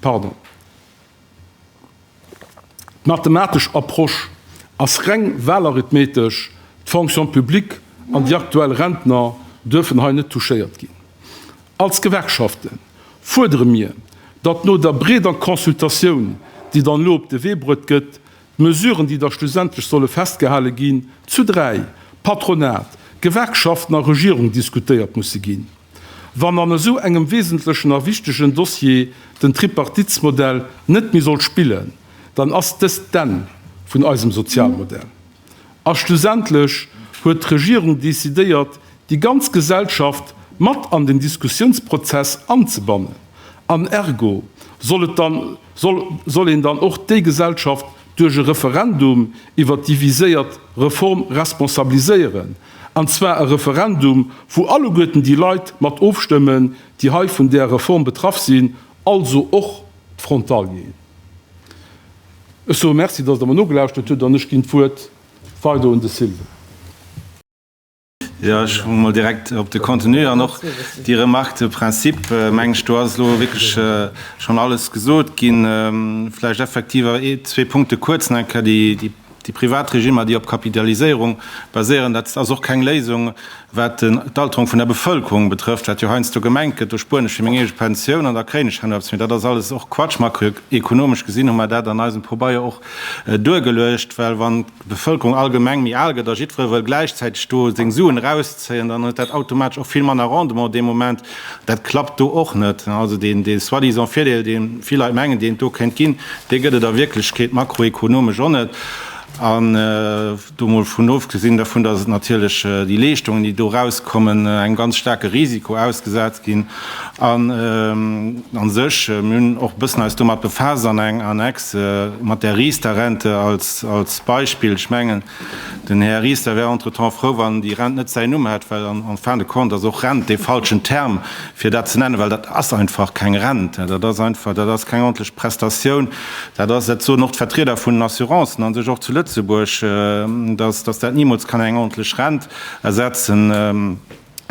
Pardon. D'mathematesch Approche ass reng wahlarithmetesch, d'Fonction publique an déi aktuell Rentner duerfen hei net touchéiert ginn. Als Gewerkschafte fuerdere mir, datt no der breeder Consultatioun, déi dann elo op de Wee bruet gëtt, D'Mesuren, déi da schlussendlech solle festgehale ginn, zu dräi, Patronat, Gewerkschaften a Regierung, diskutéiert musse ginn. Wann an esou engem wesentlechen a wichtegen Dossier den Tripartitsmodell net méi soll spillen, dann ass dëst d'Enn vun eisem Sozialmodell. A schlussendlech huet d'Regierung decidéiert, déi ganz Gesellschaft mat an den Diskussiounsprozess anzebannen. An ergo soll et dann, soll, soll een dann och déi Gesellschaft duerch e Referendum iwwert déi viséiert Reform responsabiliséieren, an zwar e Referendum, wou alleguerten déi Leit mat ofstëmmen, déi hei vun där Reform betraff sinn, also och d'Frontalieren. Ech soe Merci, dass Der mer nogelauschtert hutt, an ech ginn d'Wuert weider un de Sylve. Jo, ech komme mol direkt op de Contenu an och déi Remarque de principe, meng ech. Do ass elo wierklech schonn alles gesot ginn. Vläicht effektiv zwee Punkte kuerz nach eng Kéier, déi Déi privat Regimmer, déi op Kapitaliséierung baséieren, dat ass och keng Léisung, wat d'Alterung vun der Bevëlkerung betrëfft, wat jo heiansdo gemengt gëtt, do spueren ech fir meng eege Pensioun an da kréien ech herno eppes. Mee dat ass alles och Quatsch. Makroekonomesch gesinn hu mer dat an eisem Pobeier och duergeluecht, well wann d'Bevëlkerung allgemeng méi al gëtt a jiddweree wëll gläichzäiteg do seng Suen erauszéien, dann huet dat automatesch och vill manner Rendement dee Moment. Dat klappt do och net. Also deen soi-disant Virdeel, dee vill Leit mengen, deen et do kéint ginn, dee gëtt et a Wierklechkeet makroekonomesch och net. An do mol vun ofgesinn dervun, dass et natierlech déi Leeschtungen, déi do erauskommen, engem ganz staarke Risiko ausgesat ginn. An a sech, mir hunn och e bëssen eis domat befaasst an enger Annexe mat där Riester-Rente als Beispill, ech mengen, Den Här Ries, der wär entretemps frou, wann déi Rent net säin Numm hätt, well en fin de compte ass och Rent dee falschen Term, fir dat ze nennen, well dat ass einfach keng Rent. Dat ass einfach, dat ass keng ordentlich Prestatioun. Dat ass, dat soen och d'Vertrieder vun den Assurancen a sech och zu Lëtzebuerg, dass, dass dat nimools kann eng ordentlich Rent ersetzen.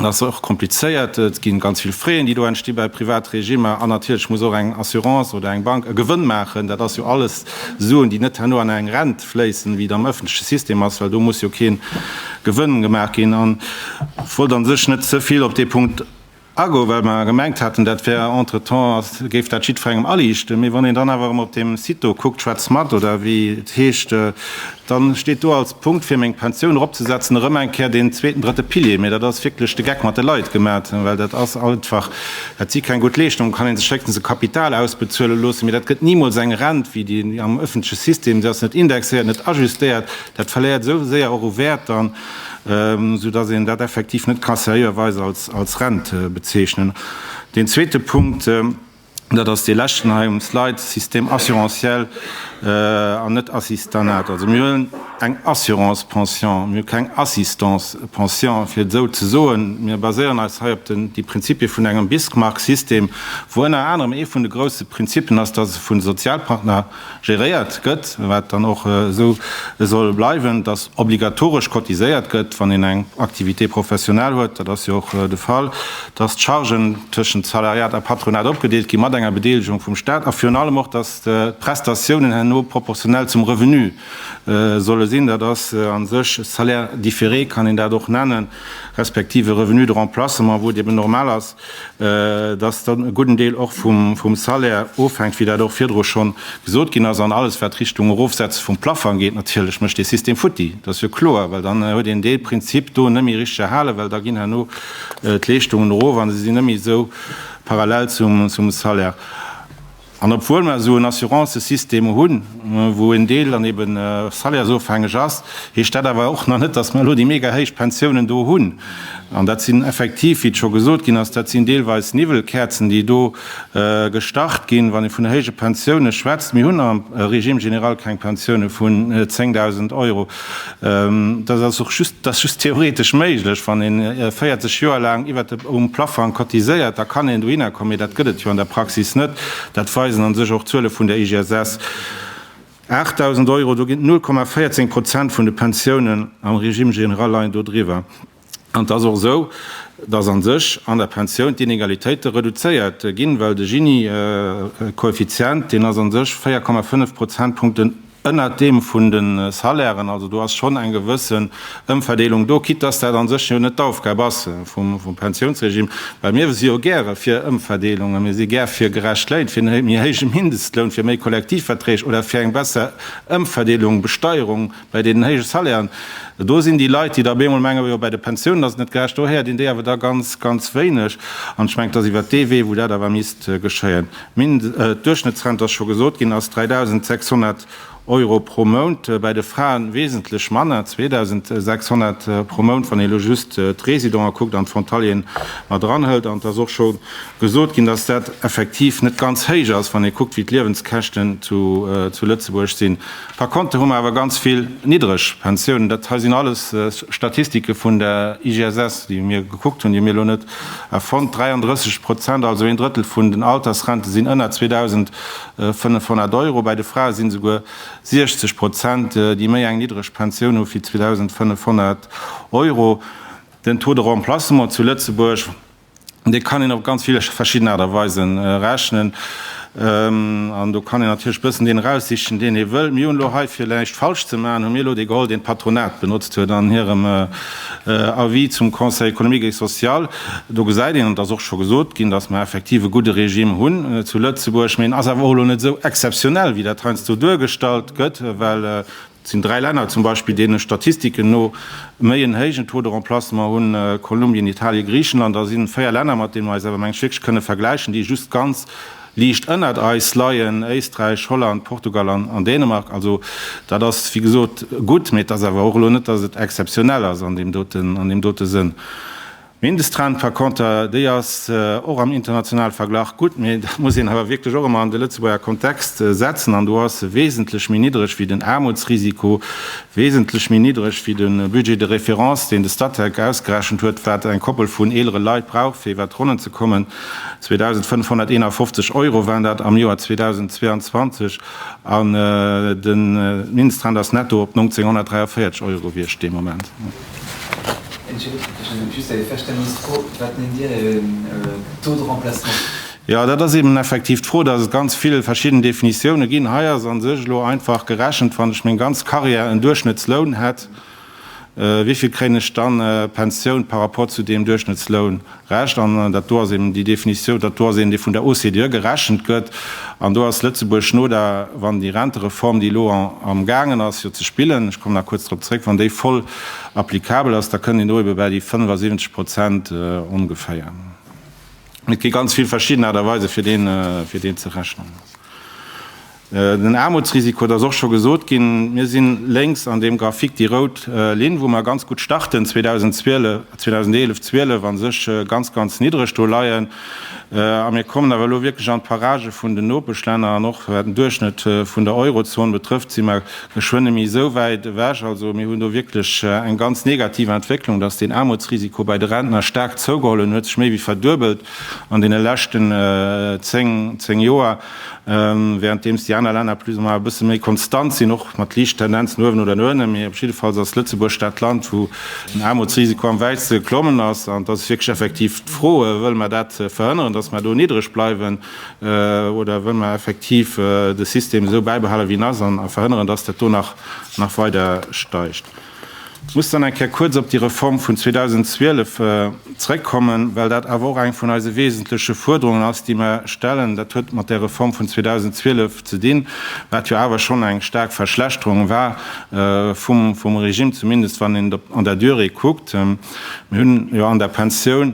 Dat ass och komplizéiert. Et gi ganz vill Fräen, déi do entsti bei Privatregimmer. An natierlech muss och eng Assurance oder eng Bank e Gewënn maachen. Dat ass jo alles Suen, déi net herno an eng Rent fléissen, wéi et am ëffentleche System ass, well do muss jo kee Gewënn gemaach ginn. An ech wollt a sech net ze vill op dee Punkt agoen, well mer gemengt haten, dat wär entretemps, géif dat jiddwerengem aliichten. Mee wann een dann awer erëm op deem Site do kuckt, Schwätz mat oder wéi et heescht, Dann steet do als Punkt fir meng Pensioun eropzesetzen erëm eng Kéier deen zweeten, drëtte Pilier. Mee dat ass wierklech de Geck mat de Leit gemat, well dat ass einfach, dat si keng gutt Leeschtungen. Kann ee sech héchstens e Kapital ausbezuele loossen, mee dat gëtt nimools eng Rent wéi déi am ëffentleche System. Se ass net indexéiert, net ajustéiert. Dat verléiert esou séier och u Wäert dann, soudatt een dat effektiv net ka seriöerweis als Rent bezeechnen. Deen zweete Punkt. Dat ass dee leschten hei um Slide, Système assurantiel an net Assistanat. Also mir huelen eng Assurance pension, mir hu keng Assistance pension, fir et esou ze soen. Mir baséieren eis hei op déi Prinzipie vun engem Bismarck-System, wou ënner anerem ee vun de grouse Prinzipen ass, dass e vun de Sozialpartner Geréiert gëtt, wat dann och esou soll bleiwen, datt obligatoresch cotiséiert gëtt, wann een eng Activité professionnelle huet, dat ass jo och de Fall, datt d'Chargen tëschent Salariat a Patronat opgedeelt ginn, mat enger Bedeelegung vum Staat, a virun allem och, datt d'Prestatiounen herno proportionnel zum Revenu solle sinn, dat ass a sech e Salaire différé, kann een dat och nennen, respektiv e Revenu de remplacement, wou et eben normal ass, dass dann e gudden Deel och vum Salaire ofhänkt, wéi dat och virdru schonn gesot ginn ass, an alles wat Richtung Erofsetze vum Plaffang geet natierlech mécht dee System futti, dat ass jo kloer, well dann huet een dee Prinzip do net méi richteg erhalen, well da ginn herno d'Leeschtungen erof a se sinn net méi esou parallel zum Salaire. An obwuel mer esou en Assurancësystem hunn, wou en Deel dann ebe salaires-ofhängeg ass, heescht dat awer och nach net, dass mer elo déi mega héich Pensiounen do hunn. An dat sinn effektiv, wéi et scho gesot ginn ass, dat sinn deelweis Niwwelkäerzen, déi do gestart ginn, wann ee vun héije Pensioune schwätzt. Mir hunn am Régime général keng Pensioune vun 10.000 Euro. Dat ass och just, dat ass just theoretesch méiglech. Wann ee 40 Joer laang iwwert dem Plafang cotiséiert, da kann een dohinner kommen, mee dat gëtt et jo an der Praxis net. Dat weisen an sech och d'Zuele vun der IGSS, 8.000 Euro, do ginn 0,14 Prozent vun de Pensiounen am Régime général leien do driwwer. An et ass och esou, dass a sech an der Pensioun d'Inegalitéite reduzéiert ginn, well de Gini-Koeffizient, deen ass a sech 4,5 Prozentpunkten ënnert deem vun de Salairen. Also do ass schonn eng gewësse Ëmverdeelung do, quitte dass dat a sech jo net d'Aufgab ass vum Pensiounsregime, well mir si jo gäre fir Ëmverdeelungen, mir si gär fir gerecht Léin, fir e méi héije Mindestloun, fir méi Kollektivverträg oder fir eng besser Ëmverdeelung, Besteierung. Bei deenen héije Salairen, do sinn déi Leit, déi da op eemol mengen, jo, bei de Pensiounen ass et net gerecht, do héiert een déi awer da ganz, ganz wéineg. An ech mengen, et ass iwwert dee Wee, wou dat awer misst geschéien. D'Duerchschnëttsrent ass scho gesot ginn, ass 3.600 Euro pro Mount, bei de Fraen wesentlech manner, 2.600 pro Mount, wann ee elo just d'Residenten kuckt an d'Frontalieren mat eranhëlt. An et ass och scho gesot ginn, dass dat effektiv net ganz héich ass, wann ee kuckt, wéi d'Liewenskäschten zu Lëtzebuerg sinn. Par konter hu mer awer ganz vill niddreg Pensiounen. Dat hei sinn alles Statistike vun der IGSS, déi mir gekuckt hunn, déi hu mir elo net erfonnt. 33 Prozent, also een Drëttel vun den Altersrente sinn ënner 2.500 Euro. Bei de Frae sinn esouguer 60 Prozent, déi méi eng niddreg Pensioun hu wéi 2.500 Euro. Den Taux de remplacement zu Lëtzebuerg Dee kann een op ganz vill verschidden Aart a Weise rechnen an do kann een natierlech e bëssen deen eraussichen, deen ee wëll. Mir hunn elo hei, fir näischt falsch ze maachen, hu mir elo dee geholl, deen d'Patronat benotzt huet an hirem Avis zum Conseil économique et social. Do gesäit een, an et ass och scho gesot ginn, datt mer effektiv e gudde Regime hunn zu Lëtzebuerg, mee en ass awer och elo net esou exzeptionell, wéi dat heiansdo duergestallt gëtt, well Et sinn dräi Länner zum Beispill, deene Statistiken no méi en héijen Taux de remplacement hunn, Kolumbien, Italien, Griichenland. Da sinn véier Länner, mat deene mer eis awer mengen ech wierklech kënne vergläichen, déi just ganz liicht ënnert eis leien, Éisträich, Holland, Portugal an Dänemark. Also dat ass wéi gesot gutt, mee et ass awer och elo net, datt et exzeptionell ass an deem dote Sënn. D'Mindestrent par conter, déi ass och am internationale Verglach gutt, mee dat muss een awer wierklech och ëmmer an de Lëtzebuerger Kontext setzen, an do ass se wesentlech méi niddreg wéi den Aarmutsrisiko, wesentlech méi niddreg wéi de Budget de référence, deen de Statec ausgerechent huet, wat eng Koppel vun eelere Leit brauch, fir iwwert d'Ronnen ze kommen, 2.551 Euro waren dat am Joer 2022, an de Mindestrent ass netto op 1.943 Euro gewiescht dee Moment. Jo, dat ass eben effektiv d'Fro, dass et ganz vill verschidden Definitiounen ginn. Hei ass a sech elo einfach gerechent, wann ech meng ganz Karriär en Duerchschnëttsloun hätt, wéi vill kréien ech dann Pensioun par rapport zu deem Duerchschnëttsloun Recht, an dat do ass eben déi Definitiou, dat do ass een, dee vun der OCDE gerechent gëtt, an do ass Lëtzebuerg no der, wann déi Rentereform, déi elo am gaangen ass jo ze spillen, ech kommen nach kuerz drop zréck, wann déi voll applicabel ass, da kënnt een do ebe bäi déi 75 Prozent ongeféier. Mee et gi ganz vill verschidden Aart a Weise fir deen, fir deen ze rechnen. Den Aarmutsrisiko, et ass och scho gesot ginn, mir si lénks an deem Graphique déi rout Linn, wou mer ganz gutt starten, 2011, 12 a sech ganz, ganz niddreg do leien. A mir kommen awer elo wierklech an d'Paragë vun den Nopeschlänner an och wat den Duerchschnëtt vun der Eurozon betrëfft, si mer geschwënn nemme esou wäit ewech. Also mir hunn do wierklech eng ganz negativ Entwécklung, dass deen Aarmutsrisiko bei de Rentner staark zougeholl huet, en huet sech méi wéi verduebelt an deene leschten 10 Joer. Währenddeems déi aner Länner plus ou moins e bësse méi konstant sinn, och mat liicht Tendenz no uewen oder no ënnen, mee op jidde Falls ass Lëtzebuerg dat Land, wou den Aarmutsrisiko am wäitste geklommen ass. An et ass wierklech effektiv d'Fro, Wëlle mer dat verhënneren, datt mer do niddreg bleiwen, oder wëlle mer effektiv de System esou bäibehalen, wéi en ass, a verhënneren, datt dat do nach weider steigt? Ech muss dann eng Kéier kuerz op déi Reform vun 2012 zrëckkommen, well dat awer och eng vun eise wesentleche Fuerderungen ass, déi mer stellen. Dat huet mat där Reform vun 2012 ze dinn, wat jo awer schonn eng staark Verschlechterung war vum Regime, zumindest wann een et an der Durée kuckt. Mir hunn jo an der Pensioun,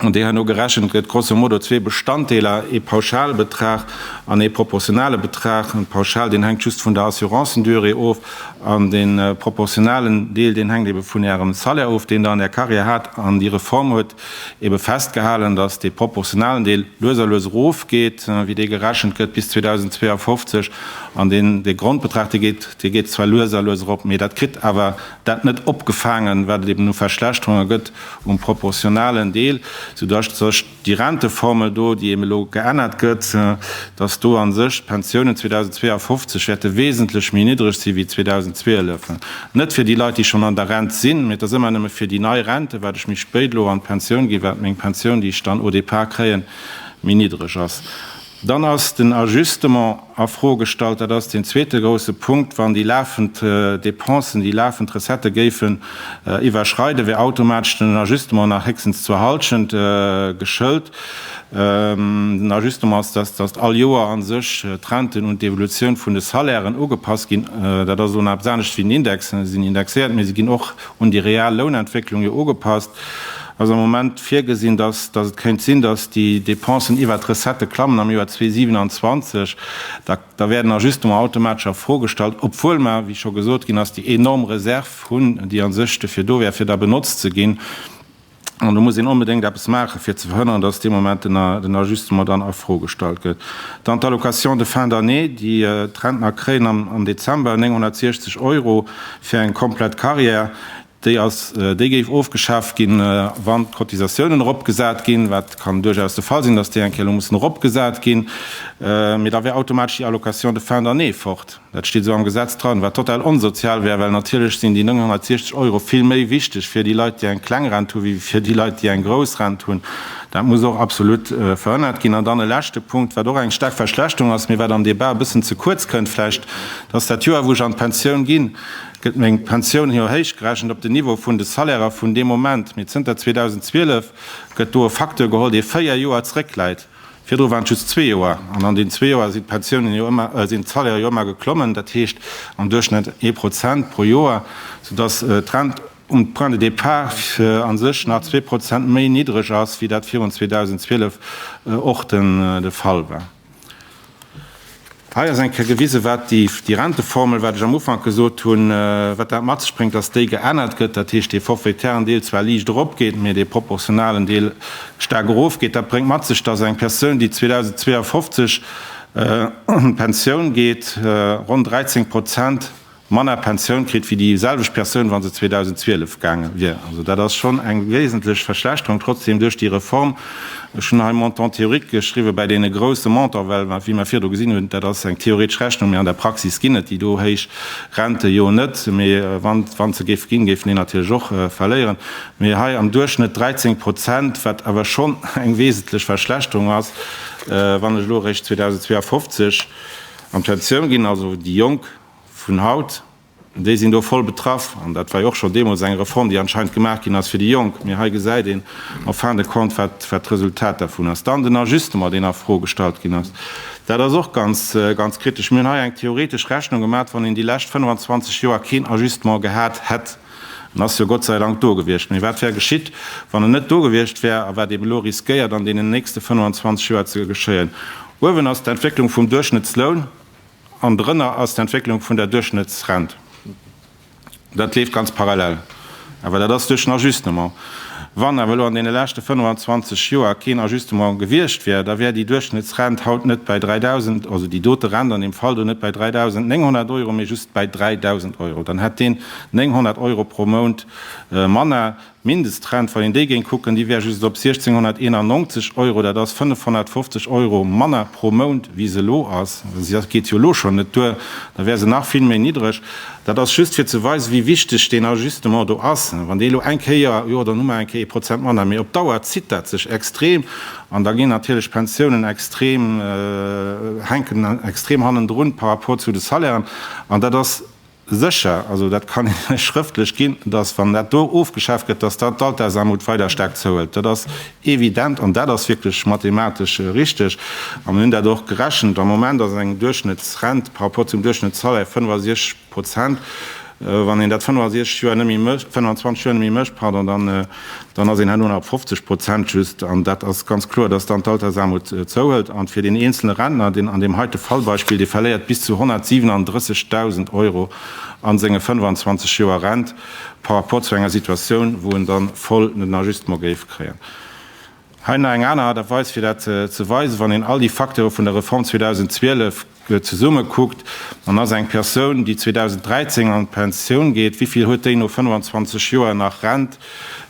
An déi herno gerechent gëtt grosso modo zwee Bestanddeeler, ee Pauschalbetrag an ee proportionale Betrag. De Pauschal, deen hänkt just vun der Assurancendurée of an de proportionalen Deel, deen hänkt ebe vun Ärem Salaire of, deen Der an Är Karriär hat. An déi Reform huet ebe festgehalen, datt dee proportionalen Deel lues a lues erofgeet, wéi dee gerechent gëtt bis 2052. An dee Grondbetrag, dee geet zwar lues a lues erop, mee dat kritt awer dat net opgefaangen, wat et eben u Verschlechterunge gëtt um proportionalen Deel, soudatt sech déi Renteformel do, déi eben elo geännert gëtt, datt do a sech d'Pensiounen 2052 wäerte wesentlech méi niddreg si wéi 2012. Net fir déi Leit, déi schonn an der Rent sinn, mee et ass ëmmer nëmme fir déi nei Renten, wat ech méi spéit elo an d'Pensioun ginn, wat meng Pensioun, déi ech dann au départ kréien, méi niddreg ass. Dann ass den Ajustement a Fro gestallt. Dat ass deen zweete grouse Punkt. Wann déi lafend Dépensen, déi lafend Recettë géifen iwwerschreiden, wär automatesch den Ajustement nach héchstens zur Hallschent geschëlt. Den Ajustement ass, dass, dass all Joer a sech d'Renten un d'Evolutioun vun de Salairen ugepasst ginn. Dat ass elo nach eppes anescht wéi den Index. Si sinn indexéiert, mä si ginn och un déi real Lounentwécklung jo ugepasst, ass am Moment virgesinn, datt datt et kéint sinn, datt déi Dépensen iwwert d'Recettë klammen am Joer 2027. Da da wäerten Ajustements automatesch a Fro gestallt, obwuel mer, wéi scho gesot ginn ass, déi enorm Reserv hunn, déi a sech dofir do wär, fir da benotzt ze ginn. An do muss een onbedéngt eppes maachen, fir ze verhënnern, dass dee Moment den Ajustement dann a Fro gestallt gëtt. Dann d'Allocation de fin d'année, déi d'Rentner kréien am Dezember, 960 Euro fir eng komplett Carrière, déi géif ofgeschaaft ginn, wann d'Cotisatiounen eropgesat ginn, wat kann duerchaus de Fall sinn, dass déi eng Kéier elo mussen eropgesat ginn. Mee da wär automatesch déi Allocation de fin d'année fort. Dat steet esou am Gesetz dran, wat total onsozial wär, well natierlech sinn déi 960 Euro vill méi wichteg fir déi Leit, déi eng kleng Rent hu wéi fir déi Leit, déi eng grouss Rent hunn. Dat muss och absolut verhënnert ginn. An dann e leschte Punkt, wat och eng staark Verschlechterung ass, mee wat am Debat e bëssen ze kuerz kënnt vläicht, dass dat Joer, wou ech an d'Pensioun ginn, gëtt meng Pensioun jo héichgerechent op den Niveau vun de Salairer vun deem Moment. Mee zënter 2012 gëtt do e Facteur geholl, dee véier Joer zrëckläit. Virdru waren et just zwee Joer, an an deenen zwee Joer sinn d'Pensiounen jo ëmmer, sinn d'Salaire jo ëmmer geklommen, dat heescht am Duerchschnëtt ee Prozent pro Joer, soudass d'Rent um Point de départ a sech nach zwee Prozent méi niddreg ass, wéi dat virun 2012 och de Fall war. Hei ass eng Kéier gewisen, wat déi Renteformel, wat ech am Ufank gesot hunn, wat dat mat sech bréngt, dass déi geännert gëtt, dat heescht, dee forfaitären Deel zwar liicht eropgeet, mee dee proportionalen Deel staark erofgeet. Dat bréngt mat sech, dass eng Persoun, déi 2052 un d'Pensioun geet, ronn 13 Prozent, manner Pensioun kritt wéi déi selwecht Persoun, wa se 2012 gaange wier. Also dat ass schonn eng wesentlech Verschlechterung. Trotzdeem, duerch déi Reform, ech hunn hei Montant théorique geschriwwen, bei deene grouse Montant, well mer, wéi mer virdru gesinn hunn, dat ass eng theoretesch Rechnung, mee an der Praxis ginn et déi do héich Rente jo net, mee wann se géife ginn, géifen déi natierlech och verléieren. Mee hei am Duerchschnëtt 13 Prozent, wat awer schonn eng wesentlech Verschlechterung ass, wann ech elo eréischt 2052 an d'Pensioun ginn, also déi Jonk. vun haut, déi sinn do voll betraff. An dat war jo och scho deemools eng Reform, déi anscheinend gemaach ginn ass fir déi Jonk. Mee hei gesäit een en fin de compte, wat, wat d'Resultat dervun ass. Dann den Ajustement, deen a Fro gestallt ginn ass. Dat ass och ganz, ganz kritesch. Mir hunn hei eng theoretesch Rechnung gemat, wann een déi lescht 25 Joer keen Ajustement gehat hätt, en ass jo Gott sei Dank do gewiescht, mee wat wär geschitt, wann en net do gewiescht wär a wat eeben elo riskéiert an deenen nächste 25 Joer ze geschéien. Uewen ass d'Entwécklung vum Duerchschnëttsloun. An dorënner ass d'Entwécklung vun der Duerchschnëttsrent. Dat leeft ganz parallel, awer dat ass duerch den Ajustement. Wann awer elo an deene leschte 25 Joer keen Ajustement gewiescht wär, da wär déi Duerchschnëttsrent haut net bäi 3.000, also déi dote Rent an deem Fall do net bäi 3.900 Euro, mee just bäi 3.000 Euro. Dann hätt deen 900 Euro pro Mount manner. Mindestrent, wann een déi géing kucken, déi wär just op 1.691 Euro, dat ass 550 Euro manner pro Mount, wéi se elo ass, si geet jo elo schonn net duer, da wär se nach vill méi niddreg. Dat ass just fir ze weisen, wéi wichteg deen Ajustement do ass. Wann dee elo eng Kéier, jo, dann hu mer eng Kéier ee Prozent manner, mee op Dauer zitt dat sech extrem an da ginn natierlech d'Pensiounen extrem, hänken extrem hannendrun par rapport zu de Salairen an dat ass, Sécher, also dat kann een lech schrëftlech ginn, datt wann dat do ofgeschaaft gëtt, datt dann d'Altersarmut weider staark zouhëlt. Dat ass evident an dat ass wierklech mathematesch richteg. A mir hunn dat och gerechent. Am Moment ass eng Duerchschnëttsrent par rapport zum Duerchschnëttssalaire 65 Prozent. Wann een dat 65 Joer net méi mécht, 25 Joer net méi mécht, pardon, dann, dann ass een herno nach op 50 Prozent just, an dat ass ganz kloer, dass dann d'Altersaarmut zouhëlt. An fir deen eenzelne Rentner, deen an deem heite Fallbeispill, dee verléiert bis zu 137.000 Euro a senge 25 Joer Rent par rapport zu enger Situatioun, wou en dann voll den Ajustement géif kréien. Hei nach eng aner Aart a Weis, fir dat ze weisen, wann een all déi Facteure vun der Reform 2012, Zesumme kuckt an ass eng Persoun, déi 2013 an d'Pensioun geet, wéi vill huet déi no 25 Joer nach Rent?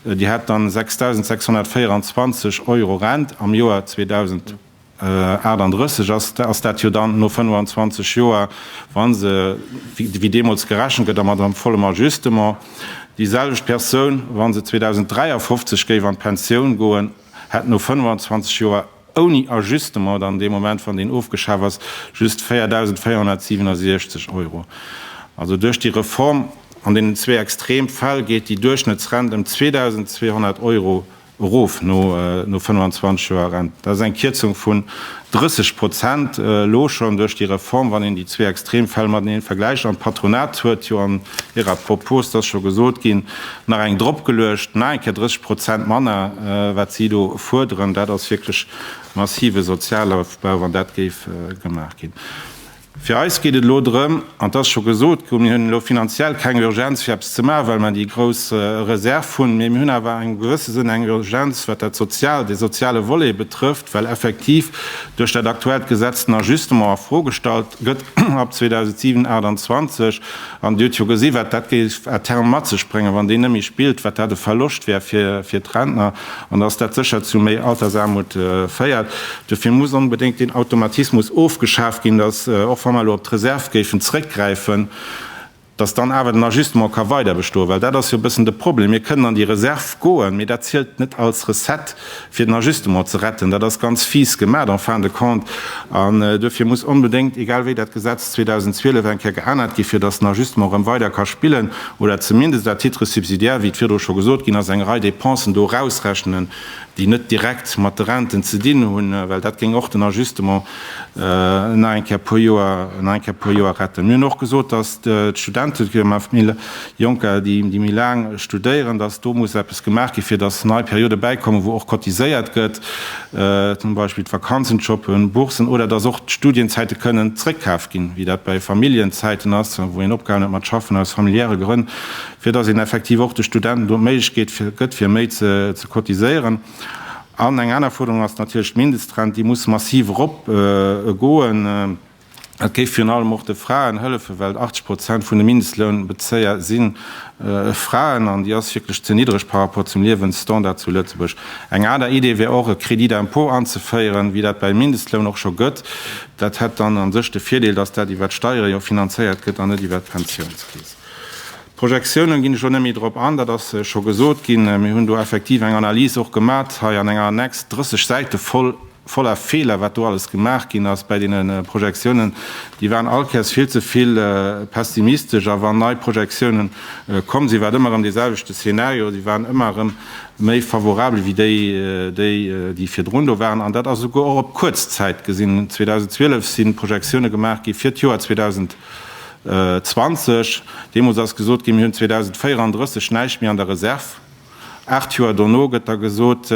Déi hätt dann 6.624 Euro Rent am Joer 2038. Ass dat jo dann no 25 Joer, wa se wéi deemools gerechent gëtt a mat engem vollem Ajustement, déi selwecht Persoun, wa se 2053 géif an d'Pensioun goen, hätt no 25 Joer ouni Ajustement dann dee Moment, wann deen ofgeschaf ass, just 4.467 Euro. Also duerch déi Reform an deenen zwee extrem Fäll geet déi Duerchschnëttsrent ëm 2.200 Euro erof no 25 Joer Rent. Dat ass eng Kierzung vun 30 Prozent elo schonn duerch déi Reform, wann een déi zwee extrem Fäll mateneen vergläicht. An d'Patronat huet jo an hirer Propos, et ass scho gesot ginn, nach eng drop geluecht, nach eng Kéier 30 Prozent manner, wat si do fuerderen. Dat ass wierklech massive Sozialofbau, wann dat géif gemaach ginn. Fir eis geet et elo drëm, an et ass scho gesot ginn, mir hunn elo finanziell keng Urgenz fir eppes ze maachen, well mer déi grouss Reserv hunn, mee mir hunn awer an engem gewësse Sënn eng Urgenz, wat dat sozial, dee soziale Volet betrëfft, well effektiv duerch dat aktuellt Gesetz den Ajustement a Fro gestallt gëtt ab 2027. An Dir hutt jo gesi wat dat géif à terme mat sech bréngen, wann deen net méi spillt, wat dat e Verloscht wär fir d'Rentner an dass dat sécher zu méi Altersaarmut féiert. Dofir muss onbedéngt deen Automatismus ofgeschaf ginn, dass och wa mer elo op d'Reserv géifen zrëckgräifen, dass dann awer den Ajustement ka weiderbestoen. Well dat ass jo e bëssen de Problem, mir kënnen an déi Reserv goen, mee dat zielt net als Recette. fir den Ajustement ze retten. Dat ass ganz fies gemaat en fin de compte an duerfir muss onbedéngt, egal wéi, dat Gesetz 2012 eng Kéier geännert ginn, fir datt den Ajustement erëm weider ka spillen oder zumindest à titre subsidiaire, wéi et virdru scho gesot ginn ass, eng Rei Dépensen do erausrechnen, déi net direkt mat de Renten ze dinn hunn, well dat géing och den Ajustement. Nach eng Kéier puer Joer, nach eng Kéier puer Joer retten. Mir hunn och gesot, datt d'Studenten, fir mat méi Jonker, déi méi laang studéieren, datt do muss eppes gemaach ginn, fir datt nei Perioden bäikommen, wou och cotiséiert gëtt, zum Beispill d'Vakanzenjoppen, Boursen, oder datt och d'Studienzäite kënnen zréckkaf ginn, wéi dat bei Familljenzäiten ass, wou een opgehalen huet mat schaffen aus familiäre Grënn, fir datt een effektiv och de Studenten do d'Méiglechkeet gëtt, fir méi ze cotiséieren. An eng aner Fuerderung ass natierlech d'Mindestrent. Déi muss massiv erop goen. Dat géif virun allem och de Fraen hëllefen, well 80 Prozent vun de Mindestlounbezéier si Fraen an déi ass wierklech ze niddreg par rapport zum Liewensstandard zu Lëtzebuerg. Eng aner Idee wär och e Crédit d'impôt anzeféieren, wéi dat beim Mindestloun och scho gëtt. Dat hätt dann a sech de Virdeel, dass dat iwwert d'Steiere jo finanzéiert gëtt an net iwwert d'Pensiounskeess. D'Projektiounen ginn ech lo net méi drop an, dat ass scho gesot ginn. Mir hunn do effektiv eng Analys och gemat hei an enger Annex, 30 Säite voll, voller Feeler, wat do alles gemaach ginn ass bäi deene Projektiounen. Déi waren all Kéiers vill ze vill pessimistesch a wann nei Projektiounen komm sinn, war et ëmmer erëm dee selwechte Szenario, se waren ëmmer erëm méi favorabel wéi déi, déi, déi virdrun do waren. An dat ass esouguer och op kuerz Zäit gesinn. 2012 si Projektioune gemaach gi fir d'Joer 2000. 20, deemools ass gesot ginn, mir hunn 2034 näischt méi an der Reserv. Aacht Joer dono gëtt da gesot,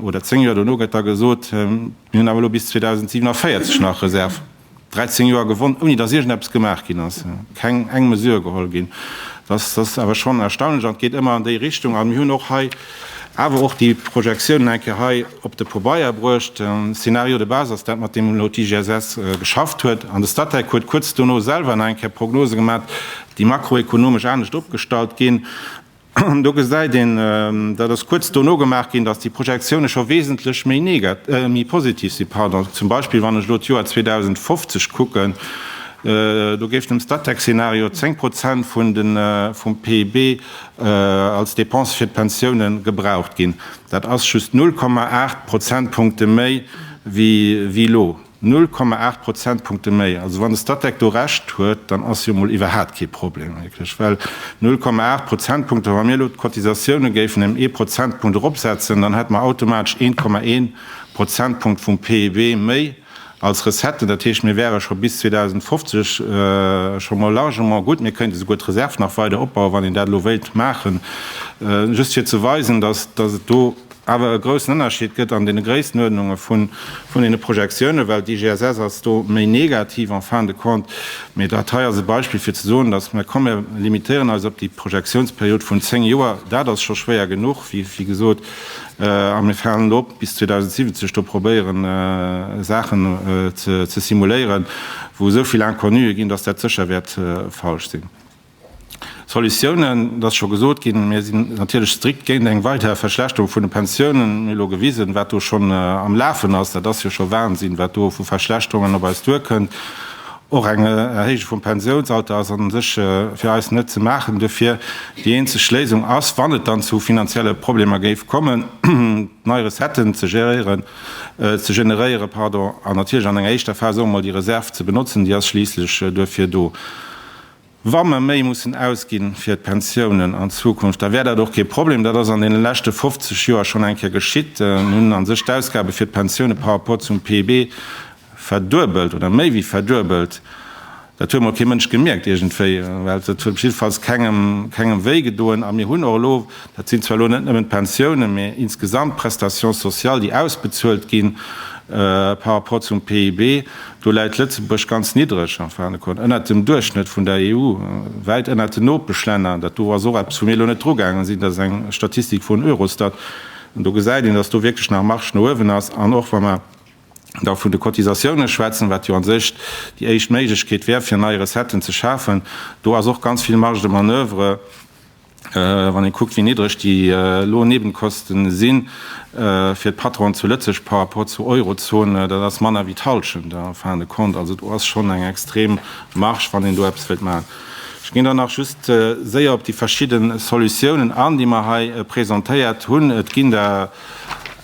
oder zéng Joer dono gëtt da gesot, mir hunn awer elo bis 2047 nach Reserv. Dräizéng Joer gewonnt, ouni datt iergendeppes gemaach ginn ass, keng eng Mesure geholl ginn. Dat ass awer schonn erstaunlech an et geet ëmmer an déi Richtung. A mir hunn och hei, Awer och déi Projektiounen eng Kéier hei op de Pobeier bruecht. De Scénario de base ass dat, mat deem elo d'IGSS geschafft huet. An de Statec huet kuerz dono selwer nach eng Kéier Prognose gemat, déi makroekonomesch anescht opgestallt ginn. An do gesäit een, dat ass kuerz dono gemaach ginn, datt déi Projektiounen scho wesentlech méi positiv sinn. Pardon. Zum Beispill, wann ech elo d'Joer 2050 kucken, do géif dem Statec-Scénario 10 Prozent vun de vum PIB als Dépense fir d'Pensioune gebraucht ginn. Dat ass just 0,8 Prozentpunkte méi wéi elo. 0,8 Prozentpunkte méi! Also wann de Statec do Recht huet, dann ass jo mol iwwerhaapt kee Problem wierklech, well 0,8 Prozentpunkte, wa mir elo d'Cotisatioune géifen ëm ee Prozentpunkt eropsetzen, dann hätte mer automatesch 1,1 Prozentpunkt vum PIB méi. Als Recetten, dat heescht, mir wäre scho bis 2050 scho mol largement gutt, mir kéinte souguer d'Reserv nach weider opbauen, wann een dat elo wéilt maachen. Just fir ze weisen, dass et do awer e groussen Ënnerscheed gëtt an deene Gréissenuerdnunge vun deene Projektiounen, well d'IGSS ass do méi negativ en fin de compte. Mee dat hei ass e Beispill, fir ze soen, dass mer, komm, mir limitéieren eis op déi Projektiounsperiod vun zéng Joer. Dat ass scho schwéier genuch, wéi gesot. A mir falen elo op bis 2070 do probéieren Saachen ze simuléieren, wou esou vill Inconnue ginn, datt dat sécher wäert falsch sinn. Solutiounen, et ass scho gesot ginn, mir sinn natierlech strikt géint eng weider Verschlechterung vun de Pensiounen. Mir hu elo gewisen, wat do schonn am Lafen ass. Dat ass jo scho Wahnsinn, wat do vu Verschlechterungen op eis duerkënnt. Och eng Erhéijung vum Pensiounsalter ass an sech fir eis net ze maachen dofir. Déi eenzeg Léisung ass, wann et dann zu finanzielle Problemer géif kommen, nei Recetten ze geréieren, ze generéieren, pardon, an natierlech an enger éischter Phas och emol déi Reserv ze benotzen, déi ass schliisslech duerfir do. Wa mer méi mussen ausginn fir d'Pensiounen an Zukunft, da wär dat och kee Problem. Dat ass an deene leschte 50 Joer schonn eng Kéier geschitt. Mir hunn a sech d'Ausgabe fir d'Pensioune par rapport zum PIB verduebelt oder méi wéi verduebelt. Dat huet mol kee Mënsch gemierkt iergendwéi, well dat huet jiddefalls kengem, kengem wéi gedoen. A mir hunn och elo, dat sinn zwar elo net nëmmen d'Pensiounen, mee insgesamt d'Prestations sociales, déi ausbezuelt ginn par rapport zum PIB, Do läit Lëtzebuerg ganz niddreg, enfin de Con, ënnert dem Duerchschnëtt vun der EU, wäit ënnert den Nopeschlänner. Dat do ass och eppes, wou mir elo net drugaangen sinn, dat ass eng Statistik vun Eurostat. An do gesäit een, datt do wierklech nach Marge no uewen ass. An och wa mer da vun de Cotisatiounen schwätzen, wat jo a sech déi éischt Méiglechkeet wär, fir nei Recetten ze schafen, do ass och ganz vill Marge de manoeuvre. Wann ee kuckt, wéi niddreg déi elo Nebenkosten si fir d'Patronen zu Lëtzebuerg par rapport zur Eurozone, dat ass manner wéi d'Halschent en fin de compte. Also do ass schonn eng extrem Marge, wann een do eppes wëllt maachen. Ech ginn dann nach just séier op déi verschidde Solutiounen an, déi mer hei presentéiert hunn. Et ginn der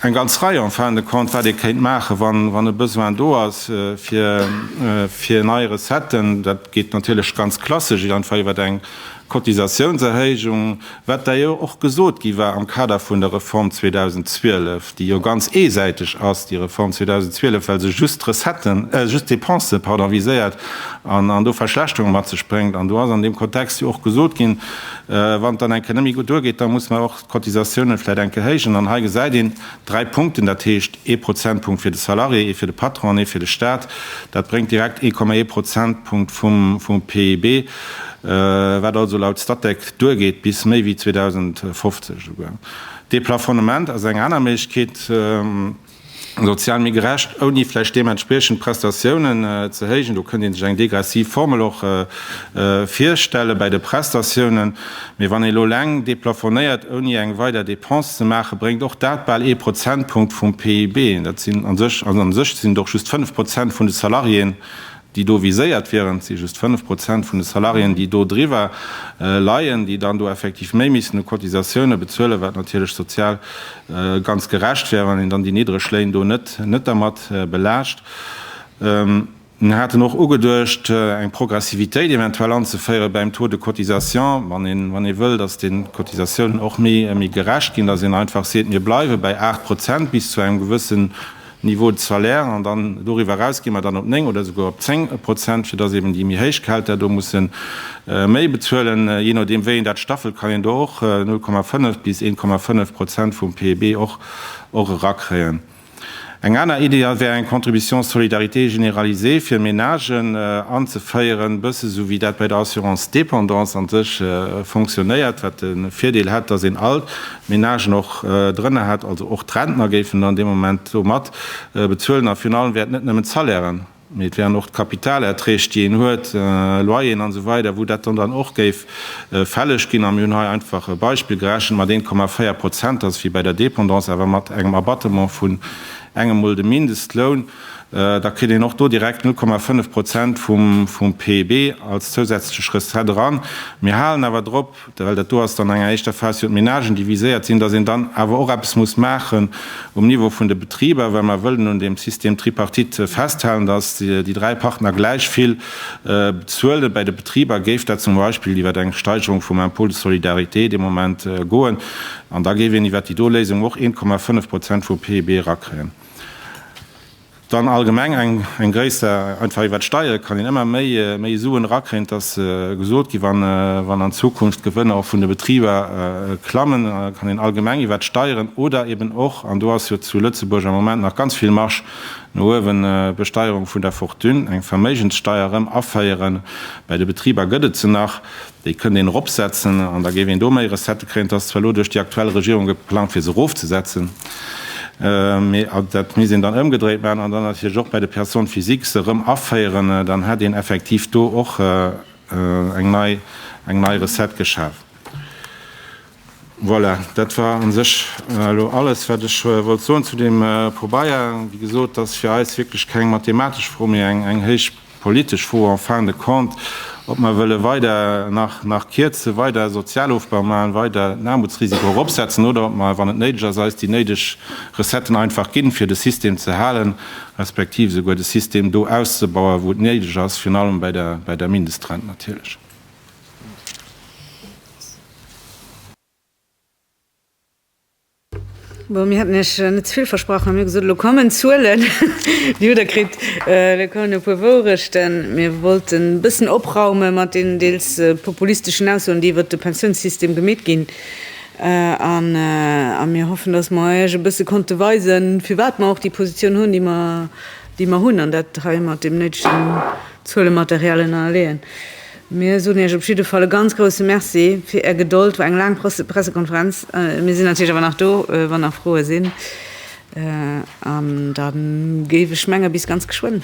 eng ganz Rei en fin de compte, wat ee kéint maachen, wann e Besoin do ass fir nei Recetten. Dat geet natierlech ganz klassesch einfach iwwert eng D'Cotisatiounserhéijung, wat da jo och gesot gi war am Kader vun der Reform 2012, déi jo ganz eesäiteg ass, déi Reform 2012, well se just d'Recetten, just d'Dépense, pardon, viséiert an do Verschlechterunge mat sech bréngt. An do ass an deem Kontext jo och gesot ginn, wann et dann eng Kéier net méi gutt duergeet, da muss mer och, Cotisatiounen vläit enke héijen. An hei gesäit een dräi Punkten, dat heescht ee Prozentpunkt fir de Salarié, ee fir de Patron an ee fir de Staat. Dat bréngt direkt ee Komma ee Prozentpunkt vum PIB, wat also laut Statec duergeet bis méi wéi 2050 esouguer. Deplafonnement ass eng aner Méiglechkeet. Sozial méi gerecht, ouni vläicht deementspriechend Prestatiounen ze héijen. Do kënnt ee sech eng degressiv Formel och virstelle bäi de Prestatiounen. Mee wann ee elo eleng deplafonéiert, ouni eng weider Depense ze maachen, bréngt och dat bal ee Prozentpunkt vum PIB. Dat sinn a sech, an a sech sinn et och just fënnef Prozent vun de Salariéen, déi do viséiert wieren, et si just 5 Prozent vun de Salariéen, déi do driwwer leien, déi dann do effektiv méi missten u Cotisatioune bezuelen, wat natierlech sozial ganz gerecht wär, wann een dann déi niddreg Léin do net dermat belaascht. Mir haten och ugeduecht, eng Progressivitéit eventuell anzeféiere beim Taux de cotisation, wann ee wëll, datt déi Cotisatiounen och méi gerecht ginn, datt een einfach seet, mir bleiwe bäi 8 Prozent bis zu engem gewëssen Niveau de salaire, an dann doriwwer eraus gi mer dann op 9 oder esouguer op 10 Prozent, fir dass eben déi méi héich Gehälter do musse méi bezuelen. Jee nodeem wéi een dat staffelt, kann een do och 0,5 bis 1,5 Prozent vum PIB och och erakréien. Eng aner Idee wär eng Contribution solidarité généralisée fir Menagen anzeféieren, bësse sou wéi dat bei der Assurance dépendance a sech fonctionnéiert, wat de Virdeel hätt, dass een all Menagen och drënner hätt, also och d'Rentner géifen dann dee Moment do mat bezuelen. A virun allem wäert net nëmmen d'Salairen, mee et wären och d'Kapitalerträg, déi een huet, Loyeren an esou weider, wou dat dann och géif fälleg ginn. A mir hunn hei einfach e Beispill gerechent mat 1,4 Prozent, dass wéi bei der Dépendance, awer mat engem Abatement vun engem Mol dem Mindestloun, da kritt een och do direkt 0,5 Prozent vum PIB als zousätzlech Recette eran. Mir halen awer drop, well dat do ass dann an enger éischter Phas, jo d'Menagen, déi viséiert sinn, datt een dann awer och eppes muss maachen um Niveau vun de Betriber, well mer wëllen un deem System tripartite festhalen, datt déi dräi Partner gläich vill bezuelen. Bäi de Betriber géif dat zum Beispill iwwer eng Steigerung vum Impôt de solidarité dee Moment goen an da géif een iwwer déi do Léisung och 1,5 Prozent vum PIB erakréien. Dann allgemeng eng gréisser, einfach iwwert d'Steiere kann een ëmmer méi Suen erakréien, et ass gesot gi wann an Zukunft d'Gewënner och vun de Betriber klammen, kann een allgemeng iwwert d'Steieren oder eben och, an do ass jo zu Lëtzebuerg am Moment nach ganz vill Marge no uewen, Besteierung vun der Fortune, eng Verméigenssteier erëm aféieren. Bei de Betriber gëtt et se nach. Déi kënnt een eropsetzen an da géif een do méi Recettë kréien. Et ass zwar elo duerch déi aktuell Regierung geplangt, fir se erofzesetzen, mee dat misst een dann ëmgedréit maachen an dann natierlech och bei de Personnes physiques se erëm aféieren. Dann hätt een effektiv do och eng nei Recette geschaf. Voilà, dat war a sech elo alles, wat ech wollt soen zu deem Pobaya. Wéi gesot, et ass fir eis wierklech keng mathematesch Fro, mee eng héich politesch Fro en fin de compte, ob mer wëlle weider nach kierzen, weider Sozialofbau maachen, weider den Aarmutsrisiko eropsetzen oder ob mer, wann et néideg ass, eis déi néideg Recetten einfach ginn, fir de System ze halen, respektiv esouguer de System do auszebauen, wou et néideg ass, virun allem bei der Mindestrent natierlech. Bon, mir haten Iech net ze vill versprach, mä mir hu gesot, elo kommen d'Zuelen. Déi hutt Der kritt. Elo kommen e puer Wourechten. Mir wollten e bëssen opraume mat deenen deels populisteschen Aussoen, déi iwwert de Pensiounssystem gemeet ginn. A mir hoffen, datt mer Iech e bësse konnte weisen, firwat mer och déi Positioun hunn, déi mer hunn, an dat hei mat deem néidegen Zuelematerial ënner leeën. Mir soen Iech op jidde Fall e ganz grousse Merci fir Är Gedold. War eng laang Pressekonferenz. Mir sinn natierlech awer nach do, wann nach Froe sinn. An da géif ech menge bis ganz geschwënn.